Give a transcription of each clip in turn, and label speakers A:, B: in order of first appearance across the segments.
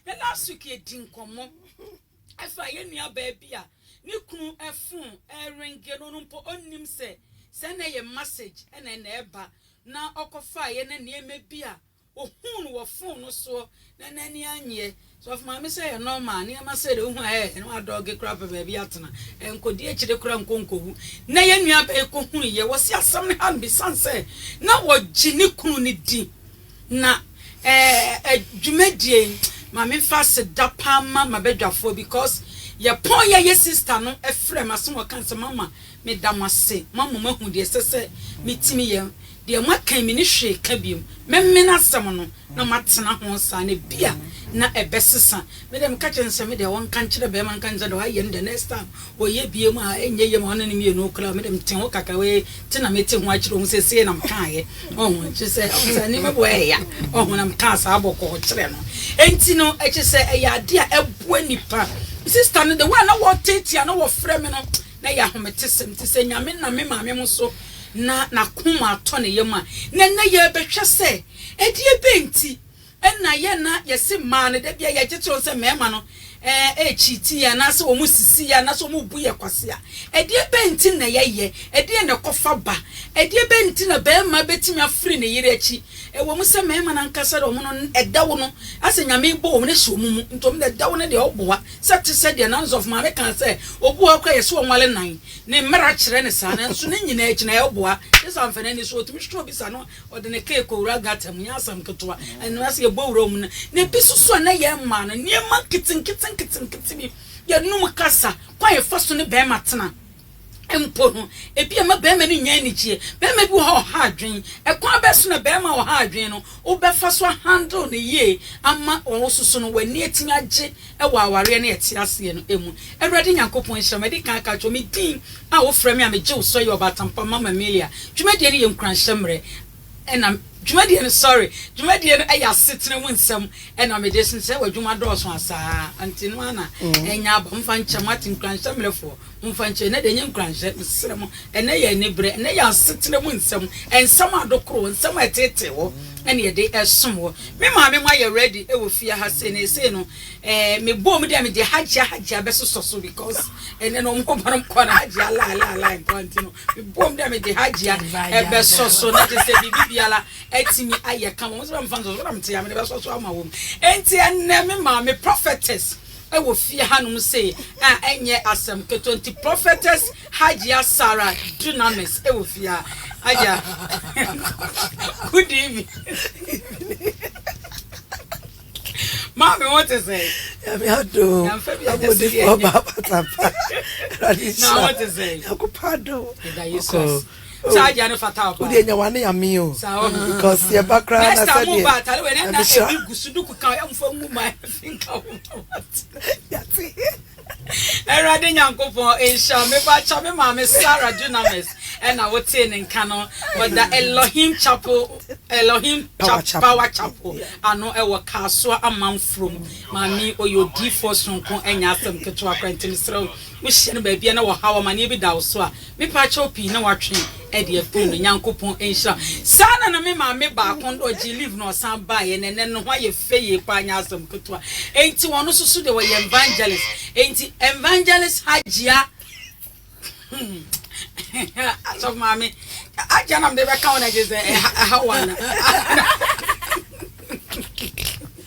A: Na last week yɛdi nkɔmmɔ ɛfa yɛn nua baa bi a ne kunu ɛfon ɛrenge no ɔno mpo ɔnnim sɛ sɛ na ɛyɛ massage ɛna ɛna ɛba na ɔkɔfaa yɛ na nneɛma bi a ɔhuu no wɔ fon no soɔ na n'ani anyeɛ sɔfo maame sɛ yɛ nɔɔma a nneɛma sɛ de wohu a ɛɛ na wadɔɔge koraa pɛ baabi atena ɛnkɔdi akyire koraa nkɔ nkɔwu na yɛn nua baa yi kɔhunu yɛ wɔ se asɛm no ha mbisane sɛ na wɔgye ne kunu no di Na eh dwumadie yi ma me fa seda paa ma mabadwafoɔ because yɛ pɔn yɛ yɛ sister no frɛ me ase na ɔka sɛ mama me da mo ase ma mo ma hu deɛ ɛsɛ sɛ me timi yɛ deɛ mo aka yi me ne hwee ka biom mɛ mene asɛm no na ma tena ho saa na bia na ɛbɛ sesa Me deɛ meka kyerɛ no sɛ me deɛ ɔnka nkyerɛ bɛɛma nka no sɛ deɛ wayɛ no deɛ next time ɔyɛ biem a ɛnyɛ yie ma ɔne no mmienu koraa o, me deɛ mete ho kakra wei nti na mete ho akyerɛ ɔmu sɛ sei na mekaeɛ ɔho kyerɛ sɛ ɔhu sɛ nneɛma bi wɔ ɛyɛ ya ɔho na mekaa saa bɔkɔɔ kyerɛ no ɛnti no ɛkyɛ sɛ ɛyɛ adeɛ a ɛboa nipa sista no de wɔ a na wɔtete a na wɔfrɛ me no na ɛyɛ ahomete sɛm te sɛ nyame na me maame mo so na nakoma atɔ ne yam a na na yɛbɛhwɛ sɛ ɛdeɛ bɛnti Nna yɛ na yɛse mmaa no da biaa yɛgye toɔ sɛ mmarima no ɛɛkyiiti yɛn anaasɛ wɔn sisi yɛn anaasɛ wɔn bu yɛn kwasea. Ɛdeɛ bɛn nti na yɛyɛ? Ɛdeɛn na ɛkɔfa ba? Ɛdeɛ bɛn nti na barima bɛtumi afiri ne yere akyi? Ɛwɔ mu sɛ mmarima no ankasa de wɔn no ɛdɛw no asɛ Nyame rebɔ wɔn asi wɔn mu nti wɔn de ɛdɛw no deɛ ɔboa sɛ te sɛ deɛ Nanzɔf maame kaa sɛ obi wɔ hɔ koraa yɛse ɔnwale nan ne mmara kyerɛ no saa nanso ne nyinaa akyi na ɛboa. Kyerɛ sɛ amfa n'ani so ɔtumi hwehwɛ obi sa no Ɔde ne kar kɔwura gutter mu, ɛnyɛ asɛm ketewa. Ɛno ara sɛ yɛbɔ wura mu no, na ebi nso so a na yɛn mmaa no, nneɛma nketenkete nketenkete bi, yɛnom kasa, kwan a yɛfa so ne barima tena mpo no, ebi mma barima no nnya anigyeɛ. Barima bi wɔ hɔ a ɔha adwene. Ɛkwan bɛn so na barima a ɔha adwene no, wobɛfa so ahandle no yie ama ɔwo nso so no, w'ani atumi agye wɔ awareɛ ne ɛte aseɛ no mu. Awurade Nyankopɔn nhyira wo. Madi kan aka akyerɛ wo, me din a wofrɛ me a megye wo sɛ ɔyɛ ɔbaatan pa Mama Emilia. Dwumadie no yɛ nkuranhyɛ mmerɛ na Dwumadie no, sorry, dwumadie no yɛ asetena mu nsɛm na mede sensɛn w'adwuma dɔɔso a saa nti no ara na ɛnya aba. Momfa nkyɛ mo ate, nkuranhyɛ mmerɛfoɔ. Momfa nkyɛ, ɛnnɛ deɛ ɛnyɛ nkuranhyɛ, mesrɛ mo, ɛnnɛ yɛ aniberɛ, ɛnnɛ yɛ asetena mu nsɛm, nsɛm adokoro hɔ, nsɛm a ɛtetee hɔ na yɛde ɛsom hɔ. Me maame mo ayɛ ready wɔ fie ha sei na sei no eh, me bɔɔ mu dɛ me deɛ Hajia Hajia bɛsosɔ so because ɛnnɛ no ɔmo ba no mo kɔɔ no Hajia lai lai lai nkoa nti no me bɔɔ mu dɛ me deɛ Hajia ɛbɛsɔ so na te sɛ biribi biara atumi ayɛ kama, ɔmo sɛ bɛmfa nsɔ so, na me te a me de bɛsɔ so ama wɔn. Enti ɛnnɛ me maame prophetess wɔ fie hanom sei a ɛnyɛ asɛm ketewa nti prophetess Hajia Sarah Dunamis wɔ fie ha Hajia good evening maame wo te sɛ yàmi ado
B: abodifo ọba abatapa ẹwurade nhyira yakopa ado ọkọ
A: saa adeɛ no fata ɔbaa wodeɛ nya wane ame o because
B: yɛba koraa na sɛdeɛ mo ba atare wei
A: ne na ebi gu so duku ka ɛmfa ngu ma ɛfi nka wo yɛte awurade nyankopɔn nhyira meba kyɛ me maame sara dunamis ɛna wotee ne nka no ɔda elohim chapel elohim power chapel ano ɛwɔ kaasoa amanfurom maame ɔyɛ odiifoɔ sonko ɛnyɛ asɛm ketewa kora nti mesrɛ wo wohyia no baabia na wɔhaw amaneɛ bi da wo so a Me paa kyɛw pii na watwe ɛde afiri no Nyankopɔn nhyira wo saa na na me maame baako no ɔgyee leave na ɔsan baeɛ na ɛnɛ ne ho ayɛ fɛ yie paa nyɛ asɛm ketewa enti ɔno nso so deɛ ɔyɛ evangelist enti evangelist Hajia asɔfo maame Hajia na mede bɛka wo na gye sɛ ɛha wo ana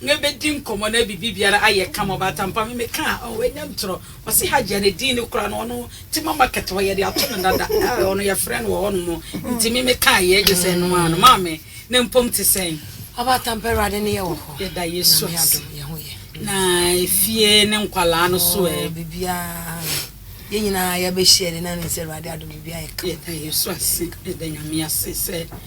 A: na yɛbɛdi nkɔmmɔ na biribiara ayɛ kama. Ɔbaatan pa me mekaa a, oh, ɛnyɛ ntorɔ. Ɔse Hajia ne din no koraa no, ɔno Tema Market hɔ yɛde ato no dada. Ah, ɔno yɛfrɛ no wɔ hɔnom. Nti me mekaa yɛ gye sɛ ɛno ara no. Maame, na mpom te sɛn? Ɔbaatan pa Awurade
B: ne yɛ wɔ hɔ. Yɛda Yesu ase.
A: Yɛ ho yɛ.
B: Na efie
A: ne nkwadaa no so ɛ? Oh, biribiara
B: yɛn nyinaa
A: yɛabɛhyia de na
B: ne sɛ
A: Awurade
B: adom biribiara
A: yɛ
B: kama. Yɛda Yesu
A: ase.
B: Yɛda
A: Nyame ase
B: sɛ.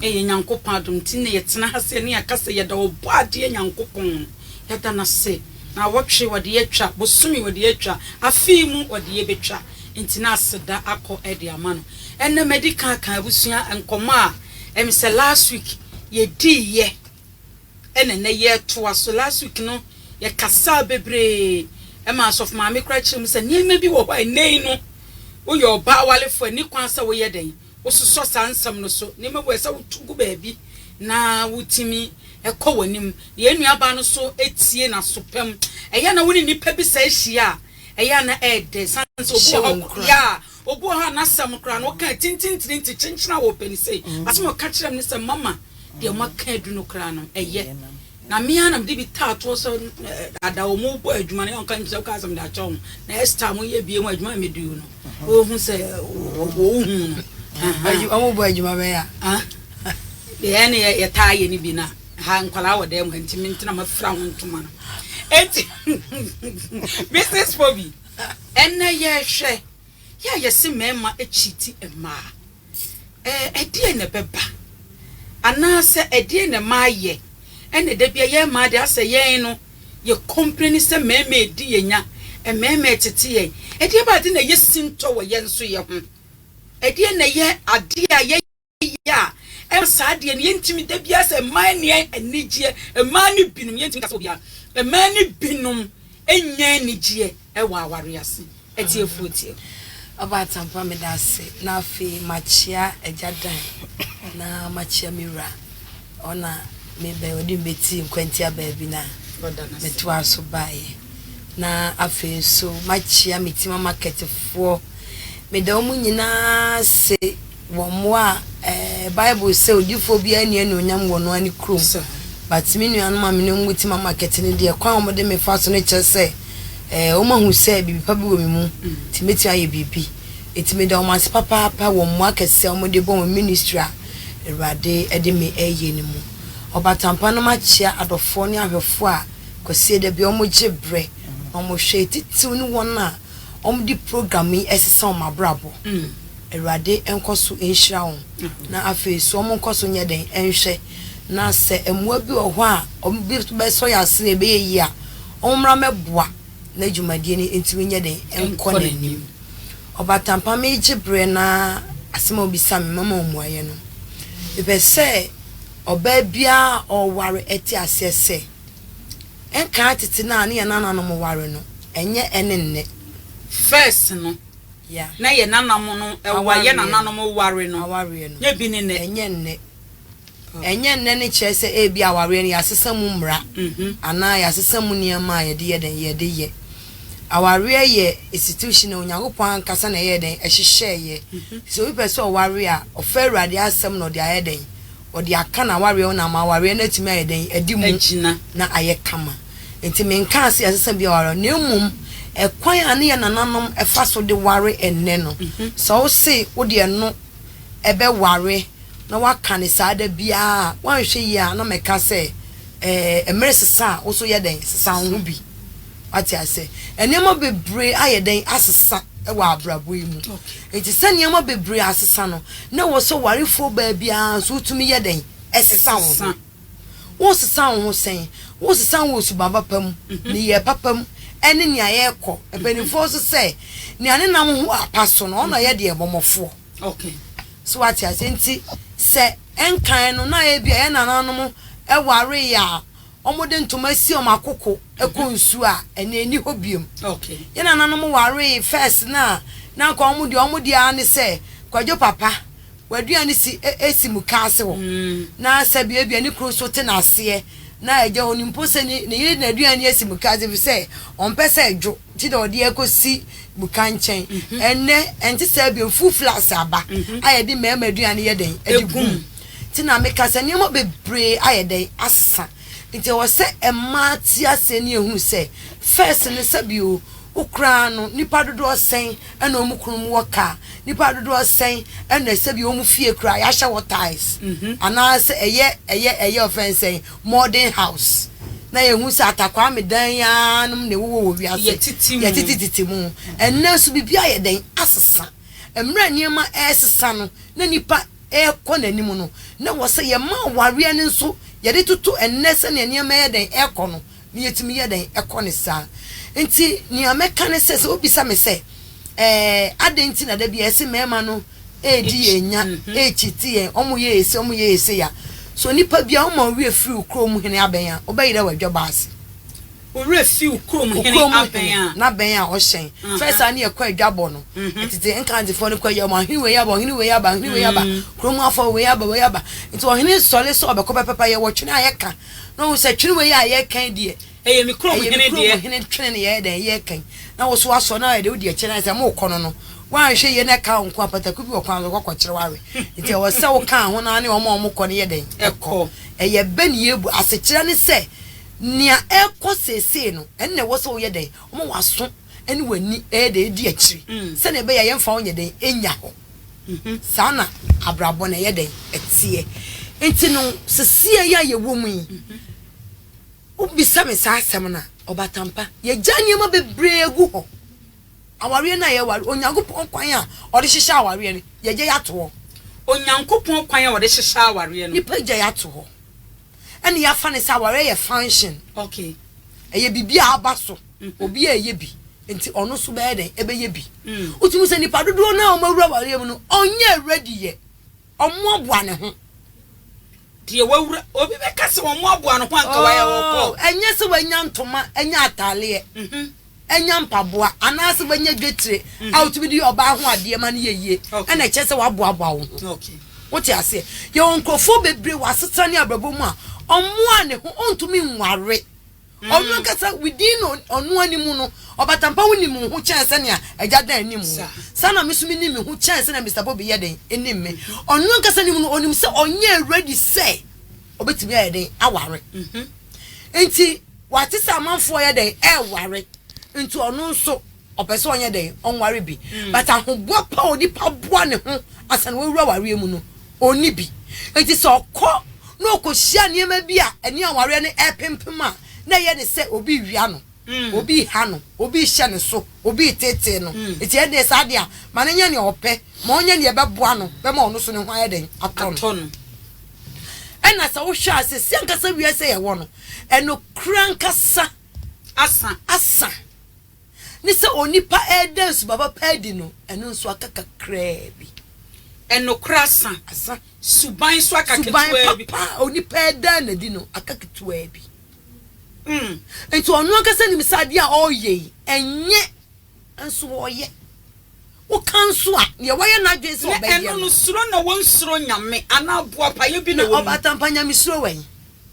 B: Ɛyɛ Nyankopɔn adom nti na yɛtena ha sɛ yɛne yɛaka sɛ yɛda Ɔbɔadeɛ Nyankopɔn, yɛda no ase. Naawɔtwe wɔde yɛatwa, bosome wɔde yɛatwa, afe yi mu wɔde yɛbɛtwa, nti na aseda akɔ de ama no. Ɛnnɛ madi kan aka abusua nkɔmmɔ a ɛm sɛ last week yɛdiiɛ ɛna ɛnnɛ yɛretoa so. Last week no yɛkasaa bebree, ɛma Asɔfo Maame koraa kyerɛɛ mu sɛ nneɛma bi wɔ hɔ a ɛnnɛ yi no woyɛ ɔbaa walefoɔ a ɛnni kwan sɛ woyɛ dɛn? Wososɔ saa nsɛm no so nneɛma bi wɔ hɔ a ɛsɛ sɛ wotu gu baabi na wutumi kɔ w'anim. Yɛn nuabaa no nso tie n'aso pa mu. Ɛyɛ a na wo ne nnipa bi sɛe hyia a, ɛyɛ a na ɛyɛ dɛ esiane sɛ obi wɔ hɔ a, yeah, obi wɔ hɔ a n'asɛm koraa no, ɔka tintintini nti kyenkyen a ɔpɛ no sei. Asɛm a ɔka kyerɛɛ me ne sɛ, Mama, deɛ moaka adu no koraa no, ɛyɛ. Na me ara na mede bi taa toɔ sɛ daadaa wɔn rebɔ adwuma no, yɛ ɔnka nim sɛ wokaa sɛ mede akyɛ wɔn na ɛstaa mo yɛ bie ho adwuma a mɛduu no wɔhu sɛ wɔhu no wɔn bɔ adwuma bɛyɛ a deɛ
A: ne yɛtaa yɛ no bi no ha nkwadaa wɔ dan mu ha nti mentena mafira ho ntoma no ɛnti mrs bobi ɛnɛ yɛhwɛ yɛ a yɛse mmarima akyiti mmaa Ɛdeɛn na ɛbɛba? Anaasɛ ɛdeɛn na ɛma ayɛ? Ɛna da bia yɛn mmaa deɛ asɛ yɛn no yɛ complaini sɛ mmarima redi yɛn nya, mmarima retete yɛn. Ɛdeɛn ba ade na ɛyɛ sintɔ wɔ yɛn nso yɛ ho? Ɛdeɛn na ɛyɛ adeɛ a yɛyɛ a ɛma saa adeɛ no yɛntumi da bia sɛ mmaa nni anigyeɛ, mmaa no binom yɛntumi ka sɛ obiara, mmaa no binom. Nnya anigyeɛ wɔ awareɛ ase. Atiefoɔ tie. Aba Atampa
B: meda ase na afei makyea Agya Dan na makyea me wura hɔ na me bɛ ɔde me bɛtii nkwantia baabi na me toaa so baeɛ na afei nso makyea Metima market foɔ meda wɔn nyinaa ase. Wɔ mmoa a eh Bible sɛ odifoɔ biara nni anuonyam wɔ ɔno ara ne kurom but me nuanom a me ne wɔn wɔ Tema market no deɛ kwan a wɔn de me fa so no kyerɛ sɛ eh wɔn ahu sɛ biribi pa bi wɔ me mu nti mɛtumi ayɛ biribi nti meda wɔn ase papaapa wɔ mmoa akɛseɛ a wɔn de bɔ wɔn ministry a Awurade de me reyɛ no mu. Ɔbatampa no makyea adɔfoɔ ne ahwɛfoɔ a Kwasie da biara wɔn gye berɛ na wɔn hwɛ titiriw ne wɔn a wɔn de program yi sesa wɔn abrabɔ. Awurade nkɔ so nhyira wɔn. Na afei nso wɔnkɔ so nyɛ dɛn nhwɛ na sɛ mmoa bi wɔ hɔ a wɔbɛsɔ yɛn ase na ɛbɛyɛ yie a, wɔmmra mmɛboa na dwumadie no ntumi nyɛ dɛn nkɔ n'anim. Ɔbatampa megye berɛ na asɛm a wobisaa me mama wo mmuaeɛ no. Mepɛ sɛ ɔbaa biara a ɔreware te aseɛ sɛ, ɛnkaa tete no a ne yɛn nananom ware no, ɛnyɛ ɛne nnɛ. First
A: no,
B: na
A: yɛ nananom no ɛware,
B: yɛ
A: nananom
B: ware no nyɛ bi ne nnɛ. Ɛnyɛ nnɛ. Ɛnyɛ nnɛ no kyerɛ sɛ ebi awareɛ no yɛasesa mu mmara anaa yɛasesa mu nneɛma a yɛde yɛ dɛn, yɛde yɛ. Awareɛ yɛ institution a Onyankopɔn ankasa na ɛyɛɛ dɛn, ɛhyehyɛɛeɛ. Nti sɛ obi pɛ sɛ ɔware a, ɔfa Awurade asɛm na ɔde ayɛ dɛn, wɔde aka no awareɛ ho na ama awareɛ no atumi ayɛ dɛn? Adi mu na ayɛ kama. Enti menkaa sɛ ɛsɛ sɛ bi a wɔaware na mmom ɛkwan a ne yɛn nananom fa so de ware ɛnnɛ no, sɛ wo se wode ɛno bɛware na woaka no saa da biara a, woanhwɛ yie a na mɛka sɛ ɛɛ, mmere sesa a, wo nso yɛ dɛn? Sesa wo ho bi. Wate ase? Nneɛma bebree ayɛ dɛn? Asesa wɔ abrabɔ yi mu. Enti sɛ nneɛma bebree asesa no, na ɛwɔ sɛ ɔwarefoɔ baa biara nso wotumi yɛ dɛn? Sesa wo ho. Wosesa wo ho sɛn? Wosesa wo wɔ suban papa mu, nneyɛɛ papa mu, ne nea yɛrekɔ. Mpanimfoɔ nso sɛ, Nea ne nam ho apa so no, ɔno na ɔyɛ deɛ bɔmmɔfoɔ.
A: So wate
B: aseɛ? Enti sɛ ɛnkan no, na ebia yɛn nananom wareeɛ a, Wɔde ntoma asi wɔn akoko kɔ nsu a ɛnɛ ɛnni hɔ biom. Yɛn nananom
A: waree
B: first no a na anka wɔn deɛ wɔn deɛ ara ne sɛ Kwadwo papa w'aduane si si muka ase hɔ na sɛbi ebia ne kunu nso te n'aseɛ na agya onim mpo sɛ ne yere n'aduane asi muka ase efisɛ ɔmpɛ sɛ ɛdwo. Nti na wɔde akosi muka nkyɛn. Ɛnnɛ, ɛnte saa bio. Full flask aba a yɛde mmarima aduane yɛ dɛn? Ɛde gu mu. Nti na meka sɛ nneɛma bebree ayɛ dɛn? Asesa. Nti ɛwɔ sɛ mmaa te aseɛ ne ɛhunu sɛ, first no sɛbio wo koraa no nnipa dodoɔ sɛn na wɔn kunu mu wɔ car? Nnipa dodoɔ sɛn na sɛbio wɔn fie koraa yɛahyɛ hɔ tiles? Anaasɛ ɛyɛ ɛyɛ ɛyɛ wɔfrɛ no sɛn? Morden House, na yɛhu sɛ atakwame dan yi ara nom na ɛwowɔ wɔ wiase yɛtetetete mu. Ɛnnɛ nso biribi ayɛ dɛn? Asesa. Mmerɛ a nneɛma resesa no, na nipa rekɔ n'anim no, na ɛwɔ sɛ yɛma awareɛ no nso yɛde toto ɛnnɛ sɛdeɛ nneɛma ɛyɛ dɛn rekɔ no, na yɛtumi yɛ dɛn kɔ no saa. Nti nea mɛka ne sɛ, sɛ wobisa me sɛ, ɛɛ adɛn nti na da biara yɛse mmarima no, redi yɛn nya, rekyiti yɛn, wɔyɛɛ sei, wɔyɛɛ sei a, sɛ onipa biara woma wo werɛ firi wo kurom hene abɛn a, wobɛyerɛ w'adwabɔ ase? Wo werɛ
A: fi wo kurom hene abɛn a? Wo kurom hene
B: n'abɛn a ɔhyɛn. First a ne yɛkɔ adwabɔ no, tete Nkantefoɔ no kɔyɛ wɔn ahene wei aba, ɔhene wei aba, ɔhene wei aba, kurom afoɔ wei aba, wei aba. Nti ɔhene sɔre sɛ ɔbɛkɔ bɛpepa yɛn wɔ twene a yɛka na ɔhu sɛ twene wei a yɛka yi deɛ, Ɛyɛ me kurom hene deɛ. Ɛyɛ me
A: kurom hene twene ne yɛyɛ dɛn
B: yɛ kan. Na wo so asɔ na ayɛ dɛ wodi akyire na ayɛ sɛ mo kɔ no no woanhwɛ yie na ɛkaa wo nko a pataku bi wɔ kwan so kɔkɔ kyere w'awe nti ɛwɔ sɛ wo kaa ho na ne wɔn a wɔn kɔ no yɛ dɛn ɛkɔ ɛyɛ bɛ ne yɛbu asekyerɛ ne sɛ nea ɛkɔ seesei no ɛnna ɛwɔ sɛ woyɛ dɛn wɔn waso ɛne w'ani ɛyɛ dɛn edi akyiri mm. sɛnea ɛbɛyɛ yɛn fa wɔn yɛ dɛn enya hɔ mm-hmm. saa na abrabɔ na ɛyɛ dɛn ɛteɛ nti no sesie yɛ a yɛwɔ mu yi. Mm-hmm. Wobisa me saa asɛm no a, ɔbatampa, yɛagya nneɛma bebree agu hɔ. Awareɛ no a yɛware, Onyankopɔn kwan a ɔde hyehyɛ awareɛ no, yɛagya yɛ ato hɔ. Onyankopɔn
A: kwan a ɔde hyehyɛ awareɛ no. Nnipa agya yɛ ato hɔ.
B: Ɛna yɛafa no sɛ awareɛ yɛ function. Okay.
A: Ɛyɛ biribi a
B: aba so. Obiara reyɛ bi, nti ɔno nso bɛyɛ dɛn? Ɛbɛyɛ bi. Wotumi hu sɛ nnipa dodoɔ no a wɔawura awareɛ mu no, wɔnyɛɛ ready yɛ. Wɔaboa ne ho.
A: Deɛ wawura. Obi bɛka sɛ wɔaboa ne ho anka wayɛ ɔkɔ. Oh, ɛnyɛ sɛ wanya ntoma,
B: anya ataaleɛ, mhm. anya mpaboa, anaasɛ wanya dwetire mhm. a wotumi de yɛ ɔbaa ho adeɛ ma no yɛ yie, ɛna ɛkyɛ sɛ waboaboa wo ho. Wote
A: aseɛ?
B: Yɛwɔ nkurɔfoɔ bebree wɔ asetena ne abrabɔ mu a ɔmmoa ne ho, ɔntumi nware. Ɔno ankasa, within ɔno ara ne mu no, ɔbatampa ho nim wo ho kyɛn sɛnea agya dan nim wo. Saa na me nso minim me ho kyɛn sɛnea Mister Bobby yɛ dɛn nim me. Ɔno ankasa ne mu no, onim sɛ ɔnyɛɛ ready sɛ obetumi ayɛ dɛn aware. Enti wate sɛ amanfoɔ yɛ dɛn ɛreware, nti ɔno nso. Ɔpɛ sɛ ɔnyɛ dɛn? Ɔnware bi. But ahoboa pa a onipa boa ne ho ansa na wawura awareɛ mu no, ɔnni bi. Enti sɛ ɔkɔ na ɔkɔhyia nneɛma bi a ɛne awareɛ no repempem a, na ɛyɛ ne sɛ obi rewia no, obi reha no, obi rehyɛ ne so, obi reteetee no. Enti ɛnneɛ saa adeɛ a, ma no nyɛ nea ɔpɛ, ma ɔnyɛ nea ɛbɛboa no, bɛma ɔno nso ne ho ayɛ dɛn? Atɔ no. Ɛnna sɛ wohwɛ a, seesei ankasa wiase a yɛwɔ no, ɛnokorɛ ankasa asa. ne sɛ onipa reda nsuba papa adi no, ɛno nso aka kakraa bi. Nokorɛ
A: asa, asa,
B: suban nso aka
A: ketewaa bi. Suban papa a onipa reda no
B: adi no aka ketewaa bi. Mm. Nti ɔno ankasa nim sɛ adeɛ a ɔreyɛ yi, ɛnyɛ. Nso ɔyɛ. Woka nso a, deɛ wayɛ n'adwene sɛ ɔbɛyɛ no. Na ɛno no, suro na
A: wɔnsuro Nyame, anaa boapayɔ bi na wɔn mu. Na ɔbatampa nyamesuro wɛn?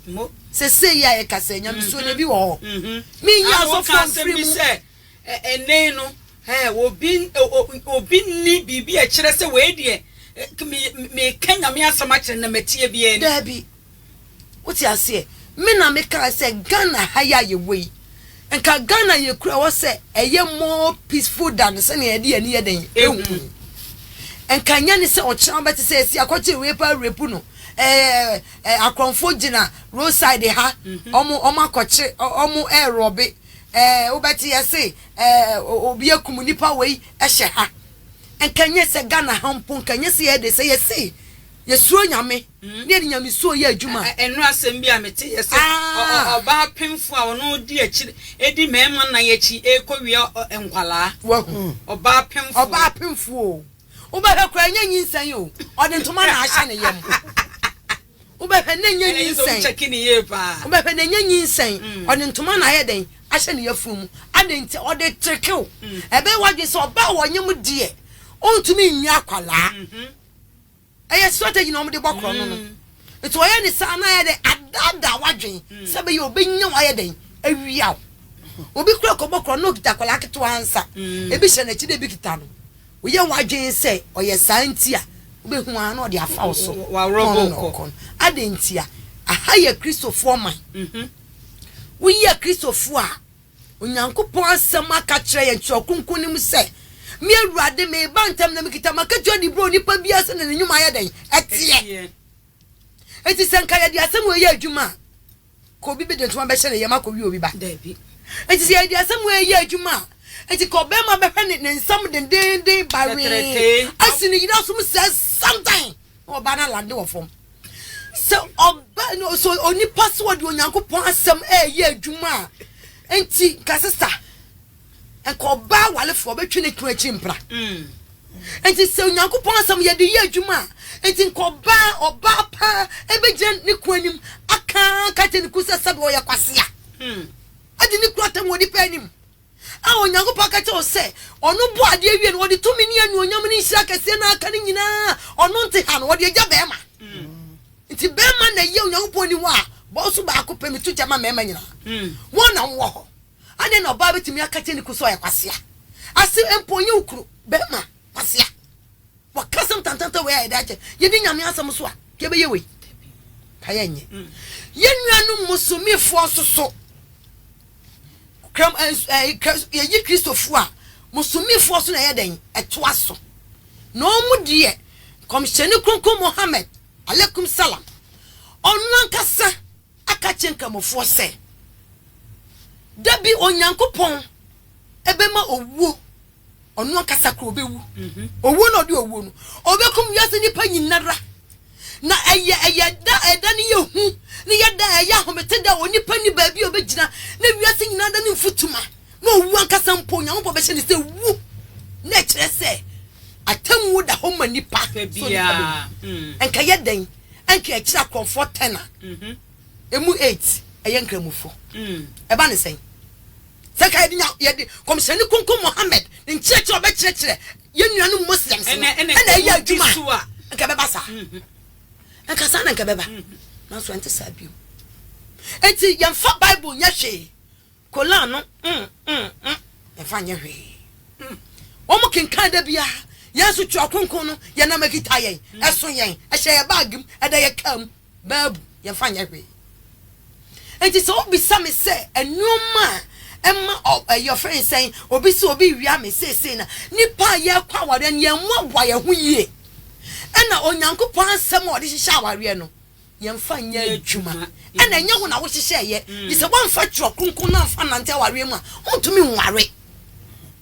B: Mo. Seesei yi a yɛka sɛ nyamesuo no, ebi wɔ hɔ. Menyi asɔfoɔ mfiri mu. Ana woka asɛm bi sɛ, Ɛnnɛ yi
A: no, eh, obi, obi nni biribi a ɛkyerɛ sɛ wei deɛ, eh, me, meka Nyame asɛm akyerɛ no na matie biara ni? Daabi.
B: Wote aseɛ? Me na mekaa sɛ Ghana ha yi a yɛwɔ yi, nka Ghana yɛkura hɔ sɛ ɛyɛ more peaceful than sɛnea yɛde yɛn ani yɛ dɛn ɛhu yi. Nka nyɛ ne sɛ ɔkyena wobɛte sɛ ɛsi akɔkyere wei paa rape no, eh, Eh akorɔnfoɔ gyina road side ha ɔmo ɔmo akɔkye ɔmo ɛrɔbe eh wobɛte yɛse eh obi akum nipa wei ɛhyɛ ha nka nyɛ sɛ Ghana ha mpo nka nyɛ sɛ yɛde sɛ yɛse yɛsuro Nyame ne yɛde nyamesuo yɛ adwuma. Ɛnora asɛm bi a mete
A: yɛse ɔbaa pemfoɔ a ɔno ɔdi akyire ɛdi mɛɛma nan akyi ɛrekɔ wia nkwadaa wahu ɔbaa
B: pemfoɔ
A: ɔbaa pemfoɔ
B: o. Wobɛhwɛ koraa ɛnyɛ nyinsɛn o,
A: ɔde
B: ntoma na ahyɛ ne yam. Wobɛhwɛ na ɛnyɛ nyinsɛn.
A: Wobɛhwɛ na ɛnyɛ nyinsɛn,
B: ɔde ntoma na ayɛ dɛn ahyɛ ne yafunu mu. Adɛn nti? Ɔde kyereke wo. Ɛbɛyɛ w'adwene sɛ ɔbaa a ɔnyem deɛ, ɔntumi nnya akwadaa. Ɛyɛ strategy na wɔde bɔ korɔn no no. Nti wɔyɛ ne saa na ayɛ dɛn adaadaa w'adwen sɛ bɛyɛ ɔbɛnya wo ayɛ dɛn awia wo. Obi kora kɔbɔ korɔn na ɔkita akwadaa ketewa nsa, ebi hyɛ n'akyi na ebi kita no. Woyɛ w'adwen sɛ ɔyɛ saa nti a, wobɛhu ara na ɔde afa wo so na ɔno na ɔkɔ
A: no. Adɛn ntia?
B: Aha yɛ Kristofoɔ man. Woyɛ Kristofo a, Onyankopɔn Asɛm aka akyerɛ yɛn Kyerɛw Kronkron no mu sɛ, Me Awurade, mereba ntɛm, na mekita m'akatua de brɛ onipa biara sɛnea ne nnwuma yɛ dɛn teɛ. Enti sɛ anka yɛde asɛm wei yɛ adwuma a, ka obi bi de ntoma bɛhyɛ ne yam akɔwe obi ba. Enti
A: sɛ yɛde
B: asɛm wei yɛ adwuma a, enti ka ɔbarima bɛhwɛ ne ne nsam dendeenden bawee, asi ne yere asom sɛ santan. Na ɔbaa no alande wɔ fam. Sɛ ɔba no so onipa so ɔde Onyankopɔn asɛm ɛyɛ adwuma a, enti nka sesa. Nka ɔbaa awalefoɔ bɛtwe ne kunu akyi mpra. Mm. Enti sɛ Onyankopɔn asɛm yɛde yɛ adwuma a, enti nka ɔbaa ɔbaa paa ɛbɛgyina ne kunu anim aka ka kyerɛ ne kunu sɛ sɛbe ɔyɛ kwasea. Mm. Ɛde ne kunu atam wɔ nipa anim. a Onyankopɔn ka kyerɛ wo sɛ ɔno bɔɔ adeɛ wie no, ɔde tumi ne anuonyam ne nhyira kɛseɛ na aka no nyinaa, ɔno nte ha no, ɔde agya bɛrima. Nti bɛrima na ɛyɛ Onyankopɔn ni hɔ a, bɔɔ so baako pɛ, meto gya ma mmarima nyinaa. Wɔn na wɔwɔ hɔ. Adɛn na ɔbaa bɛtumi aka kyerɛ ne kunu sɛ ɔyɛ kwasea? Ase mpo ɔnyɛ wo kunu, bɛrima, kwasea. Wɔka asɛm tantantan wei a yɛde akyɛ. Yɛdi Nyame asɛm so a, yɛbɛyɛ wei? Ka yɛnyɛ. Yɛn nuanom musumifoɔ nso so, kram, eh, eh, yɛyi Kristofoɔ a, musumifoɔ so na ɛyɛ dɛn? Ɛtoa so. Na wɔn deɛ, Kɔmhyɛni Kronkron Mohammed, alaikum salam, ɔno ankasa aka kyerɛ nkramofoɔ sɛ, da bi Onyankopɔn ɛbɛma owuo ɔno ankasa kora ɔbɛwu owuo na ɔde owuo no ɔbɛkum wiase nnipa nyinara na ɛyɛ ɛyɛ da ɛda ne yɛ hu ne yɛ da ɛyɛ ahomete da onipa ni baabi a ɔbɛgyina na wiase nyinaa da ne mfutuma na ɔwu ankasa mpo nyankopɔn bɛhyɛ ne sɛ wu na ɛkyerɛ sɛ atammuo da hɔ ma nipa so nipa bɛwu ɛnka mm. yɛ dɛn ɛnka ɛkyerɛ akorɔmfoɔ tɛna ɛmu mhm. 8 ɛyɛ nkramufo ɛba mm. ne sɛn Sɛ nka yɛde nya, yɛde Nkɔmhyɛni Kronkron Muhammad ne nkyerɛkyerɛ a ɔbɛkyerɛkyerɛ yɛn nuanom Muslims no na ɛyɛ adwuma a, nka ɛbɛba saa. Nka saa na nka ɛbɛba. Nanso ɛnte saa bio. Enti yɛmfa Bible nyɛ hwee. Koran no, mm, mm, mm, yɛmfa nyɛ hwee. Wɔn kenkan da biara. Yɛn nso Twerɛ Kronkron no, yɛnam ɛkita yɛn, ɛso yɛn, ɛhyɛ yɛn baage mu, ɛda yɛn kaa mu. baabu, yɛmfa nyɛ hwee. Enti sɛ wobisa me sɛ nneɛma a ɛma yɛfrɛ no sɛn, obi sɛ obi wia me seesei na nnipa a yɛrekɔ awareɛ no yɛmmoaboa yɛn ho yie ɛna Onyankopɔn asɛm a ɔde hyehyɛ awareɛ no yɛmfa nyɛ adwuma ɛna ɛnyɛ ho na wohyehyɛeɛ mm. gye sɛ woamfa twerɛ kronkron no amfa nante awareɛ mu a wontumi nware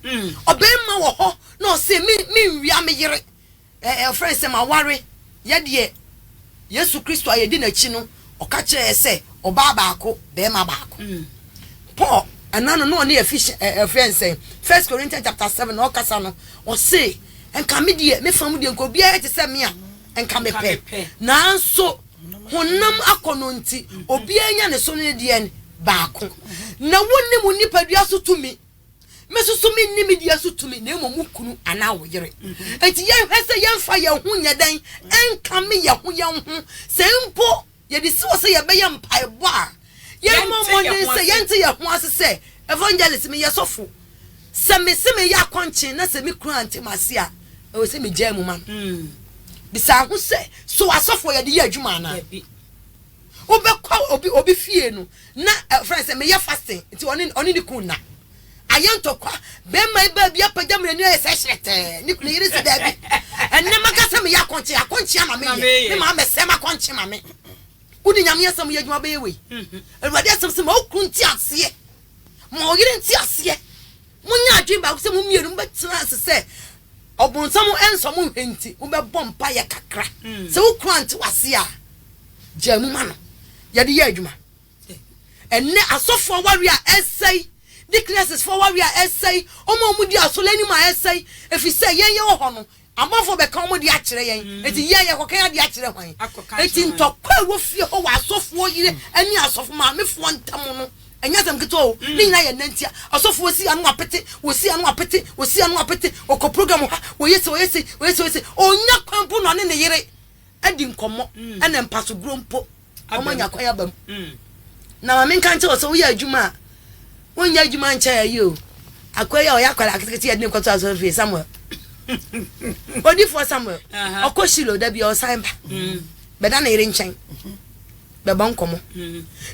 B: mm. ɔbɛrima wɔ hɔ na ɔse menwia me yere Ɛ ɛ Wɔfrɛ no sɛm aware yɛ deɛ. Yesu Kristo a yɛdi n'akyi no, ɔka kyerɛɛ yɛ sɛ, Ɔbaa baako, barima baako. Paul, ɛna no, na ɔne Efes ɛ ɛ Wɔfrɛ no sɛn? First Corinthians chapter seven, na ɔrekasa no, ɔse, Nka me deɛ, me fa mu deɛ, nka obiara yɛ te sɛ me a, nka mepɛ. Nanso honam akɔnnɔ nti, obiara nya ne so ne ne deɛn baako. Na wonni mo nipadua so tumi. Me nso so menni me deɛ so tumi, na mmom wo kunu anaa wo yere. Enti yɛnhwɛ sɛ yɛmfa yɛn ho nyɛ dɛn nkame yɛn ho yɛn ho, sɛ mpo yɛde si hɔ sɛ yɛbɛyɛ mpaebɔ a, yɛmmɔ mmɔden sɛ yɛnte yɛn ho ase sɛ, Evangelist, meyɛ sɔfo. Sɛ mese mereyɛ akɔnkyen na sɛ me kunu ante m'ase a, ɛwɔ sɛ megyaa mu ma no. Bisa ho sɛ, So asɔfo yɛ de yɛ adwuma anaa? wobɛkɔ obi obi fie no na ɛfrɛ sɛ meyɛ fasting nti ɔne ɔne ne kun na ayɛ ntɔkwa bɛrima yi baabi apagya mmerɛ ni ayɛ sɛ hyerɛtɛɛ ne kunu yere sɛ daabi ɛnɛ maka sɛ meyɛ akɔnkye akɔnkye ama meyɛ ne maa mɛsɛ makɔnkye ma me wode nyame asɛm yɛ adwuma bɛyɛ wei mhm. awurade asɛm sɛ ma wo kunu nti aseɛ ma ɔyere nti aseɛ Monyɛ adwene baako sɛ mo mmienu mobɛtena ase sɛ Ɔbonsam nsɔ mo nhwɛ nti, mobɛbɔ mpaeɛ kakra. Sɛ wo kunu ante wo ase a, gyaa mu ma no. Yɛde yɛ adwuma. Ɛnnɛ, asɔfo awareɛ a ɛresɛe, deaconesses fo awareɛ a ɛresɛe, wɔn a wɔdi asɔre anim a ɛresɛe, ɛfiri sɛ yɛn yɛwɔ hɔ no, Abɔfoɔ bɛka wɔn de akyerɛ yɛn, enti yɛn, yɛkɔka yɛn adeɛ akyerɛ hwan? Enti ntɔkwa a ɛwɔ fie hɔ wɔ asɔfoɔ yere ne asɔfo maamefoɔ ntam no, ɛnyɛ asɛm ketewa o, ne nyinaa yɛ nna ntia. Ɔsɔfoɔ si ano apete, wɔsi ano apete, wɔsi ano apete, wɔkɔ program ha, wɔyɛ sei, wɔyɛ sei, wɔyɛ sei, wɔyɛ sei, ɔnnya kwan mpo na ɔne ne yere adi nkɔmmɔ ɛna mpasoguro mpo wɔn anya kwan aba mu na maame nka nkyɛn wɔ sɛ woyɛ adwuma a wonyɛ adwuma nkyɛn ayi o akɔyɛ a ɔyɛ akwadaa aketekete yɛ de ne kɔtɔ asɔre fie samuel odifoɔ samuel ɔkɔ shilo da bi ɔsan ba bɛda ne yere nkyɛn bɛbɔ nkɔmmɔ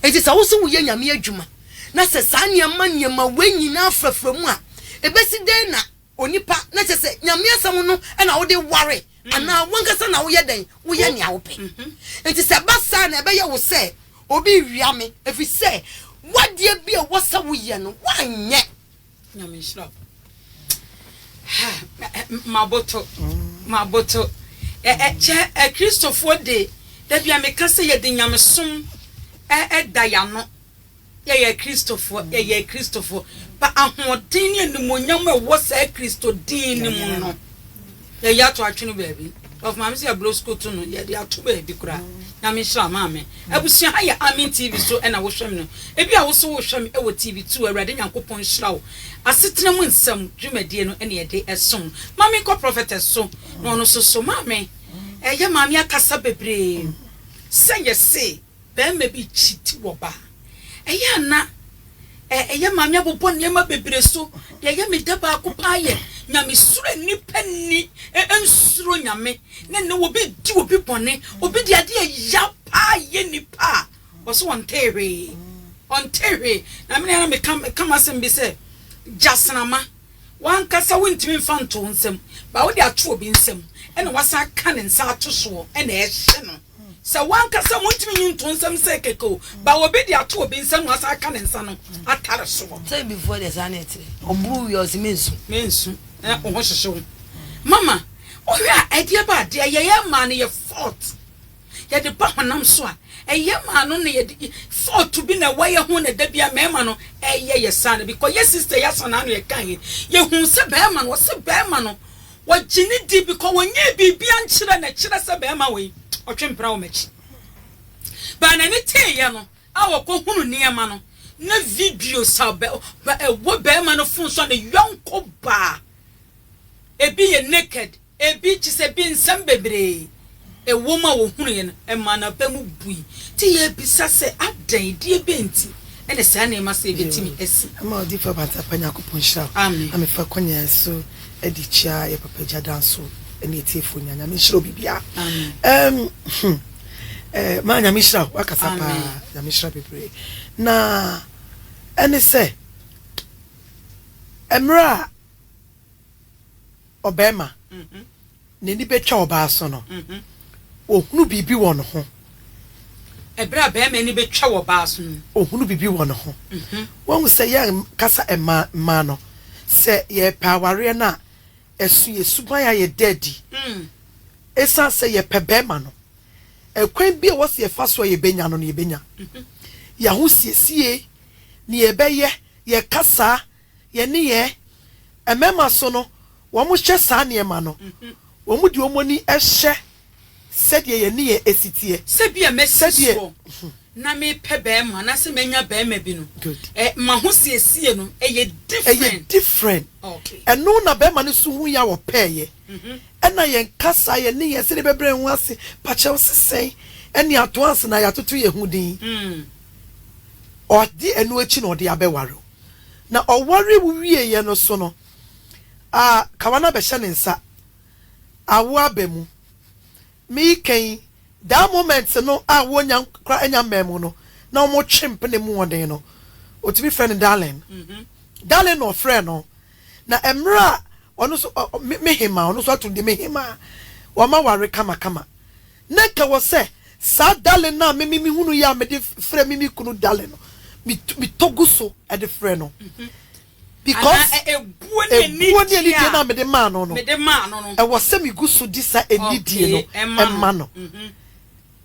B: enti sɛ wo so woyɛ nyame adwuma na sɛ saa nneɛma nneɛma wei nyinaa frafra mu a ɛbɛsi dɛn na Onipa, na kyerɛ sɛ Nyame asɛm no na wode ware anaa wankasa na woyɛ dɛn, woyɛ nea wopɛ. Enti sɛ ɛba saa na ɛbɛyɛ wo sɛ obi rewia me ɛfiri sɛ w'adeɛ bi a ɛwɔ sɛ woyɛ no woanyɛ. Nyame nhyira
A: wo. Ha, maboto, maboto. Ɛ, ɛ, kyɛ Akristofoɔ de, da bi a meka sɛ yɛde Nyamesom da yɛn ano. Yɛyɛ Kristofo, yɛyɛ Kristofo. Pa ahoɔden ne animuonyam a ɛwɔ saa Kristo din no mu no, yɛyɛ ato atwe no baabi. Ɔfo maame sɛ yɛbrɛ sukutu no, yɛde ato baabi koraa. Nyame nhyira maame. Abusua ha yɛ Amen TV so na wohwɛ me no. Ebi a wo so wohwɛ me wɔ TV two, Awurade Nyankopɔn nhyira wo. Asetena mu nsɛm dwumadie no na yɛde som no. Ma me nkɔ Prophetess so na ɔno nso so. Maame, ɛyɛ maame akasa bebree sɛ yɛse. barima bi kyiti wɔ ba a, ɛyɛ a na ɛyɛ ma mebobɔ nneɛma bebree so. Deɛ ɛyɛ me dɛ baako pa ara yɛ nyamesuro a nnipa nni. Ɛnsuro Nyame na ɛnna obi di obi bɔne. Obi de adeɛ ɛya pa ara yɛ nnipa a, ɔse ɔntee hwee. Ɔntee hwee. Na me na na meka meka m'asɛm bi sɛ, Gyasramma, w'ankasa wontumi mfa ntoo nsam, but wode ato obi nsam, ɛnna woasan aka ne nsa ato soɔ, ɛnna ɛhye no. Sɛ w'ankasa wontumi nyi nto nsam nsɛe kɛkɛ o, ba obi de ato obi nsa mu asan aka ne nsa no atare soɔ. Sɛ bifoɔ deɛ saa na
B: ɛteɛ. Ɔboro wie a ɔse mensu. Mensu. Ɛɛ wo ho hyehye
A: wo. Mama, wohwɛ a ɛdeɛ ba a, deɛ yɛyɛ maa no yɛ fault. Yɛde ba honam so a, ɛyɛ maa no na yɛde fault bi na ɛwɔ yɛ ho na da biara mmarima no ɛyɛ yɛ saa no. Bikɔ yɛ sister yɛ Asana no yɛkaeɛ, yɛhuu sɛ barima no, ɔse barima no Wɔgye no di bcause wɔnyɛɛ biribi ankyerɛ no ɛkyerɛ sɛ barima wei ɔtwe mpena wɔ m'akyi. But n'ani teeɛ no a ɔkɔ hunu nneɛma no na videos a ɛwɔ barima no phone so a ne yɔnko baa ebi yɛ naked ebi kyesɛ ebi nsɛm bebree Ɛwom a wɔhunuiɛ no ɛmaa n'abam bui. Nti yɛrebisa sɛ, adɛn, deɛ bɛn nti na saa nneɛma sei bɛtumi asi? Ɛma Odiyifoɔ Abatsa pa
C: Nyankopɔn nhyira wo na me fa kɔnya
A: ɛso
C: ɛde kyia yɛ papa gya da nso ɛne atiefoɔ nyinaa Nyame nhyira obi biara ɛɛm hmm ɛɛ maa Nyame nhyira wo wakasa paa Nyame nhyira bebree na ɛne sɛ ɛmmerɛ a Ɔbarima, n'ani bɛtwa ɔbaa so no, ɔhunu biribi wɔ ne ho.
A: Ɛberɛ a barima ani bɛtwa wɔ ɔbaa so no. Ɔhunu biribi wɔ ne
C: ho. Woahu sɛ yɛnkasa mmaa mmaa no, sɛ yɛrepɛ awareɛ no a, ɛso yɛn suban ayɛ dɛ adi. Ɛsiane sɛ yɛpɛ barima no, ɛkwan biara a ɛwɔ sɛ yɛfa so a yɛbɛnya no no, yɛbɛnya. Yɛn ahosiesie, deɛ yɛbɛyɛ, yɛn kasa, Yɛn nneyɛɛ, mmarima so no, wɔhyɛ saa nneɛma no, wɔde wɔn ani hyɛ sɛdeɛ yɛn nneyɛɛ si teɛ. Sɛ bi a masi
A: soɔ na mepɛ barima anaasɛ manya barima bi no, m'ahosiesie no yɛ different? Ɛyɛ different.
C: Okay. Ɛno
A: na barima no nso
C: hui a ɔpɛeɛ. Mhm. Ɛna yɛn kasa, yɛn nneyɛɛ, sɛdeɛ yɛbɛbrɛ yɛn ho ase, pakyɛw sesɛn, ɛne ato ansa na yɛatoto yɛn ho din. Mm. Ɔde ɛno akyi na ɔde abɛware wo. na ɔwaree wieeɛ no so no, a kawa no abɛhyɛ ne nsa. Awo aba mu. Me yi ka yi, that moment no a wɔnya kora anya mmaa mu no, na wɔn twe mpena mu wɔden no, ɔtumi frɛ no darling. Darling na ɔfrɛɛ no. Na mmerɛ a ɔno nso, me hemaa, ɔno nso ato no din me hemaa, wɔn ma ware kama kama. Na ɛka wɔ sɛ, Saa darling no a me me mehunu yi a mede frɛ me me kunu darling no, me me tɔ gu so de frɛ no because Anaa ɛ ɛbuo ne ɛbuo ne anidie anidie a no a mede maa no no, mede maa no no. ɛwɔ sɛ megu so de saa anidie no Okay, ɛma no. ma no. Mhm.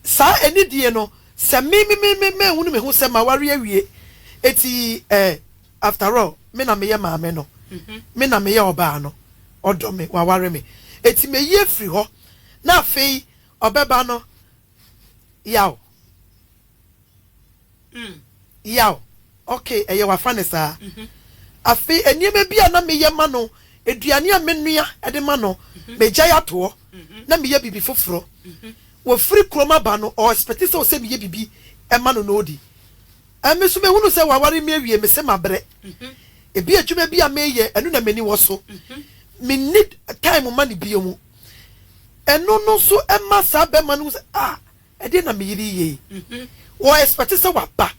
C: Saa anidie no, sɛ me me me me manhunu me ho sɛ m'aware awie, enti eh, After all me na meyɛ maame no, me na meyɛ ɔbaa no, ɔdɔ me, waware me, eti meyi afiri hɔ na afei ɔbɛba no yaw, yaw, okay ɛyɛ wafa no saa. Afei nneɛma bi a na meyɛ ma no, aduane a menoa de ma no, megyae ato hɔ na meyɛ biribi foforɔ. Wɔfiri kurom aba no, ɔexpɛte sɛ ɔsɛ meyɛ biribi ma no na ɔdi. Emi so mehunu sɛ w'aware mi awie mese mabrɛ ebi adwuma bi a meyɛ ɛno na m'ani wɔ so me nni time mma no bio mu ɛno no nso ɛma saa bɛma no hu sɛ ah ɛdeɛ na me yere yi yɛ yi wɔ expect sɛ waba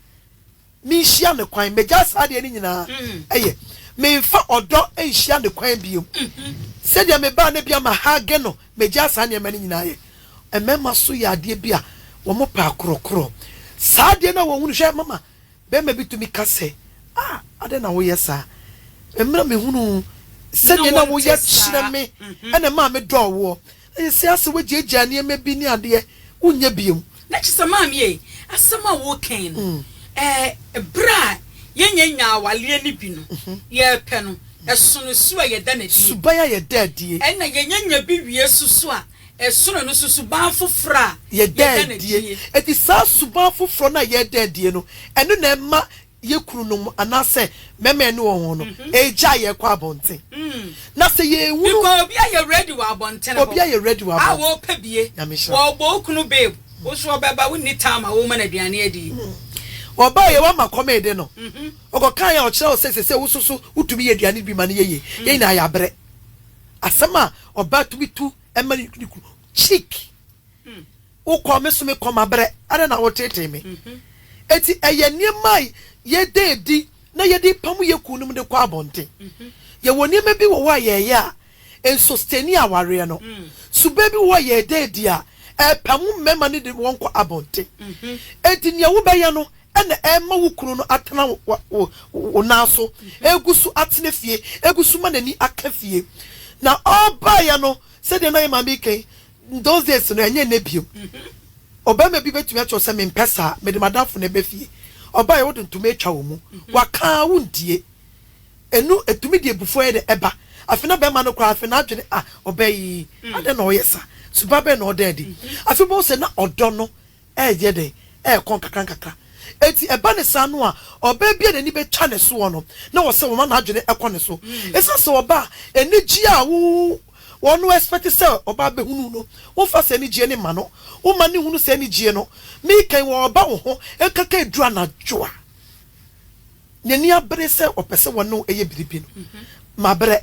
C: me nhyia no kwan megyae saa adeɛ no nyinaa ɛyɛ menfa ɔdɔ nhyia no kwan bio sɛdeɛ mebaa no bia ma hage no Megyaa saa nneɛma no nyinaa yɛ. Mmarima so yɛ adeɛ bi a wɔpɛ akorɔkorɔ. Saa adeɛ no a wɔhunu, hwɛ, mama barima bi tumi ka sɛ, Ah, adɛn na woyɛ saa? Mmerɛ a mehunuu sɛdeɛ na woyɛ kyerɛ me na ɛmaa medɔɔ woɔ. Seesei asɛ woagyaagyaa nneɛma bi ne adeɛ, wonyɛ bio. Na kyesa maame ei
A: asɛm a wo kɛn no ɛɛ ɛberɛ a yɛn nyɛ nyaa awaleɛ no bi no yɛ pɛ no ɛsono su a yɛ da nadie suban a yɛ da adie
C: ɛna yɛ nyɛ nya bi
A: wie so su a ɛsono ɛno so suban afoforɔ a yɛ da nadie
C: ɛti saa suban afoforɔ no a yɛ da adie no ɛno na ɛma yɛ kununom anaasɛ mmarima a yɛne wɔn wɔ no regyae yɛn kɔ abɔnten. Na sɛ yɛrehunu. Because obi ayɛ ready wɔ
A: abɔnten hɔ. Obi ayɛ ready wɔ abɔnten. A
C: wɔrepɛ bie. Nyame
A: nhyira wo. Wɔrebɔ wo kunu babe. Wo nso ɔbɛba, wonni time a worema no aduane adi yi. Ɔbaeɛ,
C: woama kɔm rede no. Ɔkɔkaeɛ a, ɔkyerɛɛ wo sɛ seesei wo nso so wotumi yɛ aduane bi ma no yɛ yie. Yɛn nyinaa yɛabrɛ. Asɛm a ɔbaa tumi tu ma ne kunu cheek. Wokɔɔ me so, mekɔɔ mabrɛ, ɛnna na woteetee me. Enti ɛyɛ nneɛma a yɛda adi na yɛde repam yɛn kununom de kɔ abɔnten. Yɛwɔ nneɛma bi wɔ hɔ a yɛyɛ a ɛnsɔsteni awareɛ no. Suban bi wɔ hɔ a yɛda adi a ɛpam mmarima no de wɔn kɔ abɔnten. Enti nea wobɛyɛ no na ɛma wo kunu no atena wo nan so, gu so atena fie, gu so ma n'ani aka fie. Na ɔbaeɛ no, sɛdeɛ na yɛn maame reka yi, In those days no, ɛnyɛ nnɛ bio. Ɔbarima bi bɛtumi akyerɛ wo sɛ, Mempɛ saa, mede m'adamfo no ɛbɛ fie. Ɔbaeɛ, wode ntoma atwa wo mu. Waka ara, wontie. Ɛno, ɛtumi de abufuo ayɛ dɛ ɛba. Afei na barima no koraa, afei n'adwene, Ah, ɔbaa yi, adɛn na ɔyɛ saa? Suban bɛn na ɔda adi? Afei wobɛhu sɛ na ɔdɔ no reyɛ dɛn? Ɛrekɔ nkakrankakra. Enti ɛba no saa no a, ɔbaa bi a n'ani betwa ne soɔ no, na wɔ sɛ wɔma n'adwene kɔ ne so. Esiane sɛ ɔbaa a, anigyeɛ a wo wɔn expect sɛ ɔbaa bɛhunu no, womfa saa anigyeɛ no mma no. Woma no nhunu saa anigyeɛ no. Meka yi, ɔreba wo hɔ nkanka ɛduru anadwo a, n'ani abere sɛ ɔpɛ sɛ wɔne wo yɛ biribi no, mabrɛ.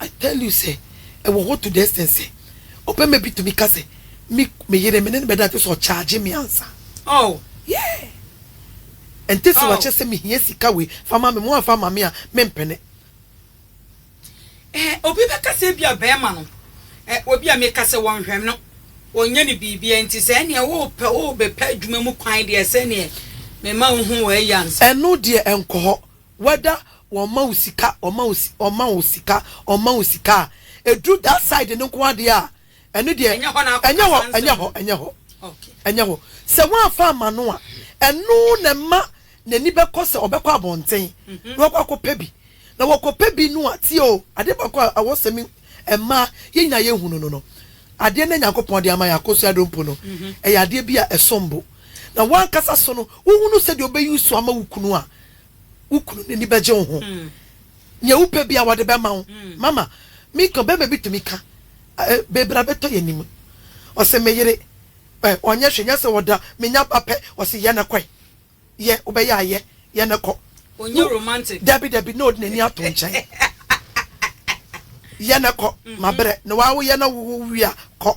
A: I
C: tell you sɛ ɛwɔ hɔ to the extent sɛ ɔbɛma bi tumi ka sɛ me me yere me ne no bɛda kyesɛ ɔcharge me ansa. Oh yeah ɛnte sɛ wakyɛ sɛ mehia sika wei fa ma me ma woamfa ama me a mempene. Ɛhɛ
A: obi bɛka sɛ ebia bɛɛma no ɛ obi a meka sɛ wɔnhwɛ no ɔnyɛ no biribia nti sɛ ɛneɛ wopɛ wobɛpɛ adwuma mu kwan deɛ sɛneɛ mema wohu wei ansa. Ɛno deɛ ɛnkɔ
C: hɔ. Whether wɔma wo sika, wɔma wo si, wɔma wo sika, wɔma wo sika a, ɛduru that side no nko ara deɛ a, ɛno deɛ, Ɛnyɛ hɔ na akɔ ɛnyɛ hɔ, kasa ɛnyɛ nsɛm. hɔ, ɛnyɛ hɔ, Okay. ɛnyɛ hɔ.
A: Sɛ
C: woamfa amma no a, ɛno na ɛma n'ani bɛkɔ sɛ ɔbɛkɔ abɔnten na wakɔ akɔpɛ bi. Na wɔkɔpɛ bi no a, tie o, adeɛ baako a ɛwɔ sɛ me, mmaa, yɛn nyinaa yɛhunu no no, adeɛ no a Nyankopɔn de ama yɛn, akosua dompo no, ɛyɛ adeɛ bi a ɛsom bo. Na w'ankasa so no, wohunu sɛdeɛ wobɛyi so ama wo kunu a, wo kunu no ani bɛgye wo ho. Nea wopɛ biara wɔde bɛma wo. Mama, me ka, ɔbarima bi tumi ka, eh, baabi na bɛtɔ yɛn anim. Ɔse, me yere, eh, ɔnyɛ hwee, nyɛ sɛ ɔda, menya ba pɛ, ɔse, yɛ na kɔe. Yɛ, wobɛyɛ a yɛ, yɛ na kɔ. Ɔnyɛ romantic.
A: Dabi, dabi, na ɔde n'ani
C: ato nkyɛn. Yɛ na kɔ, mabrɛ, na wawo yɛ na wowo wie a, kɔ.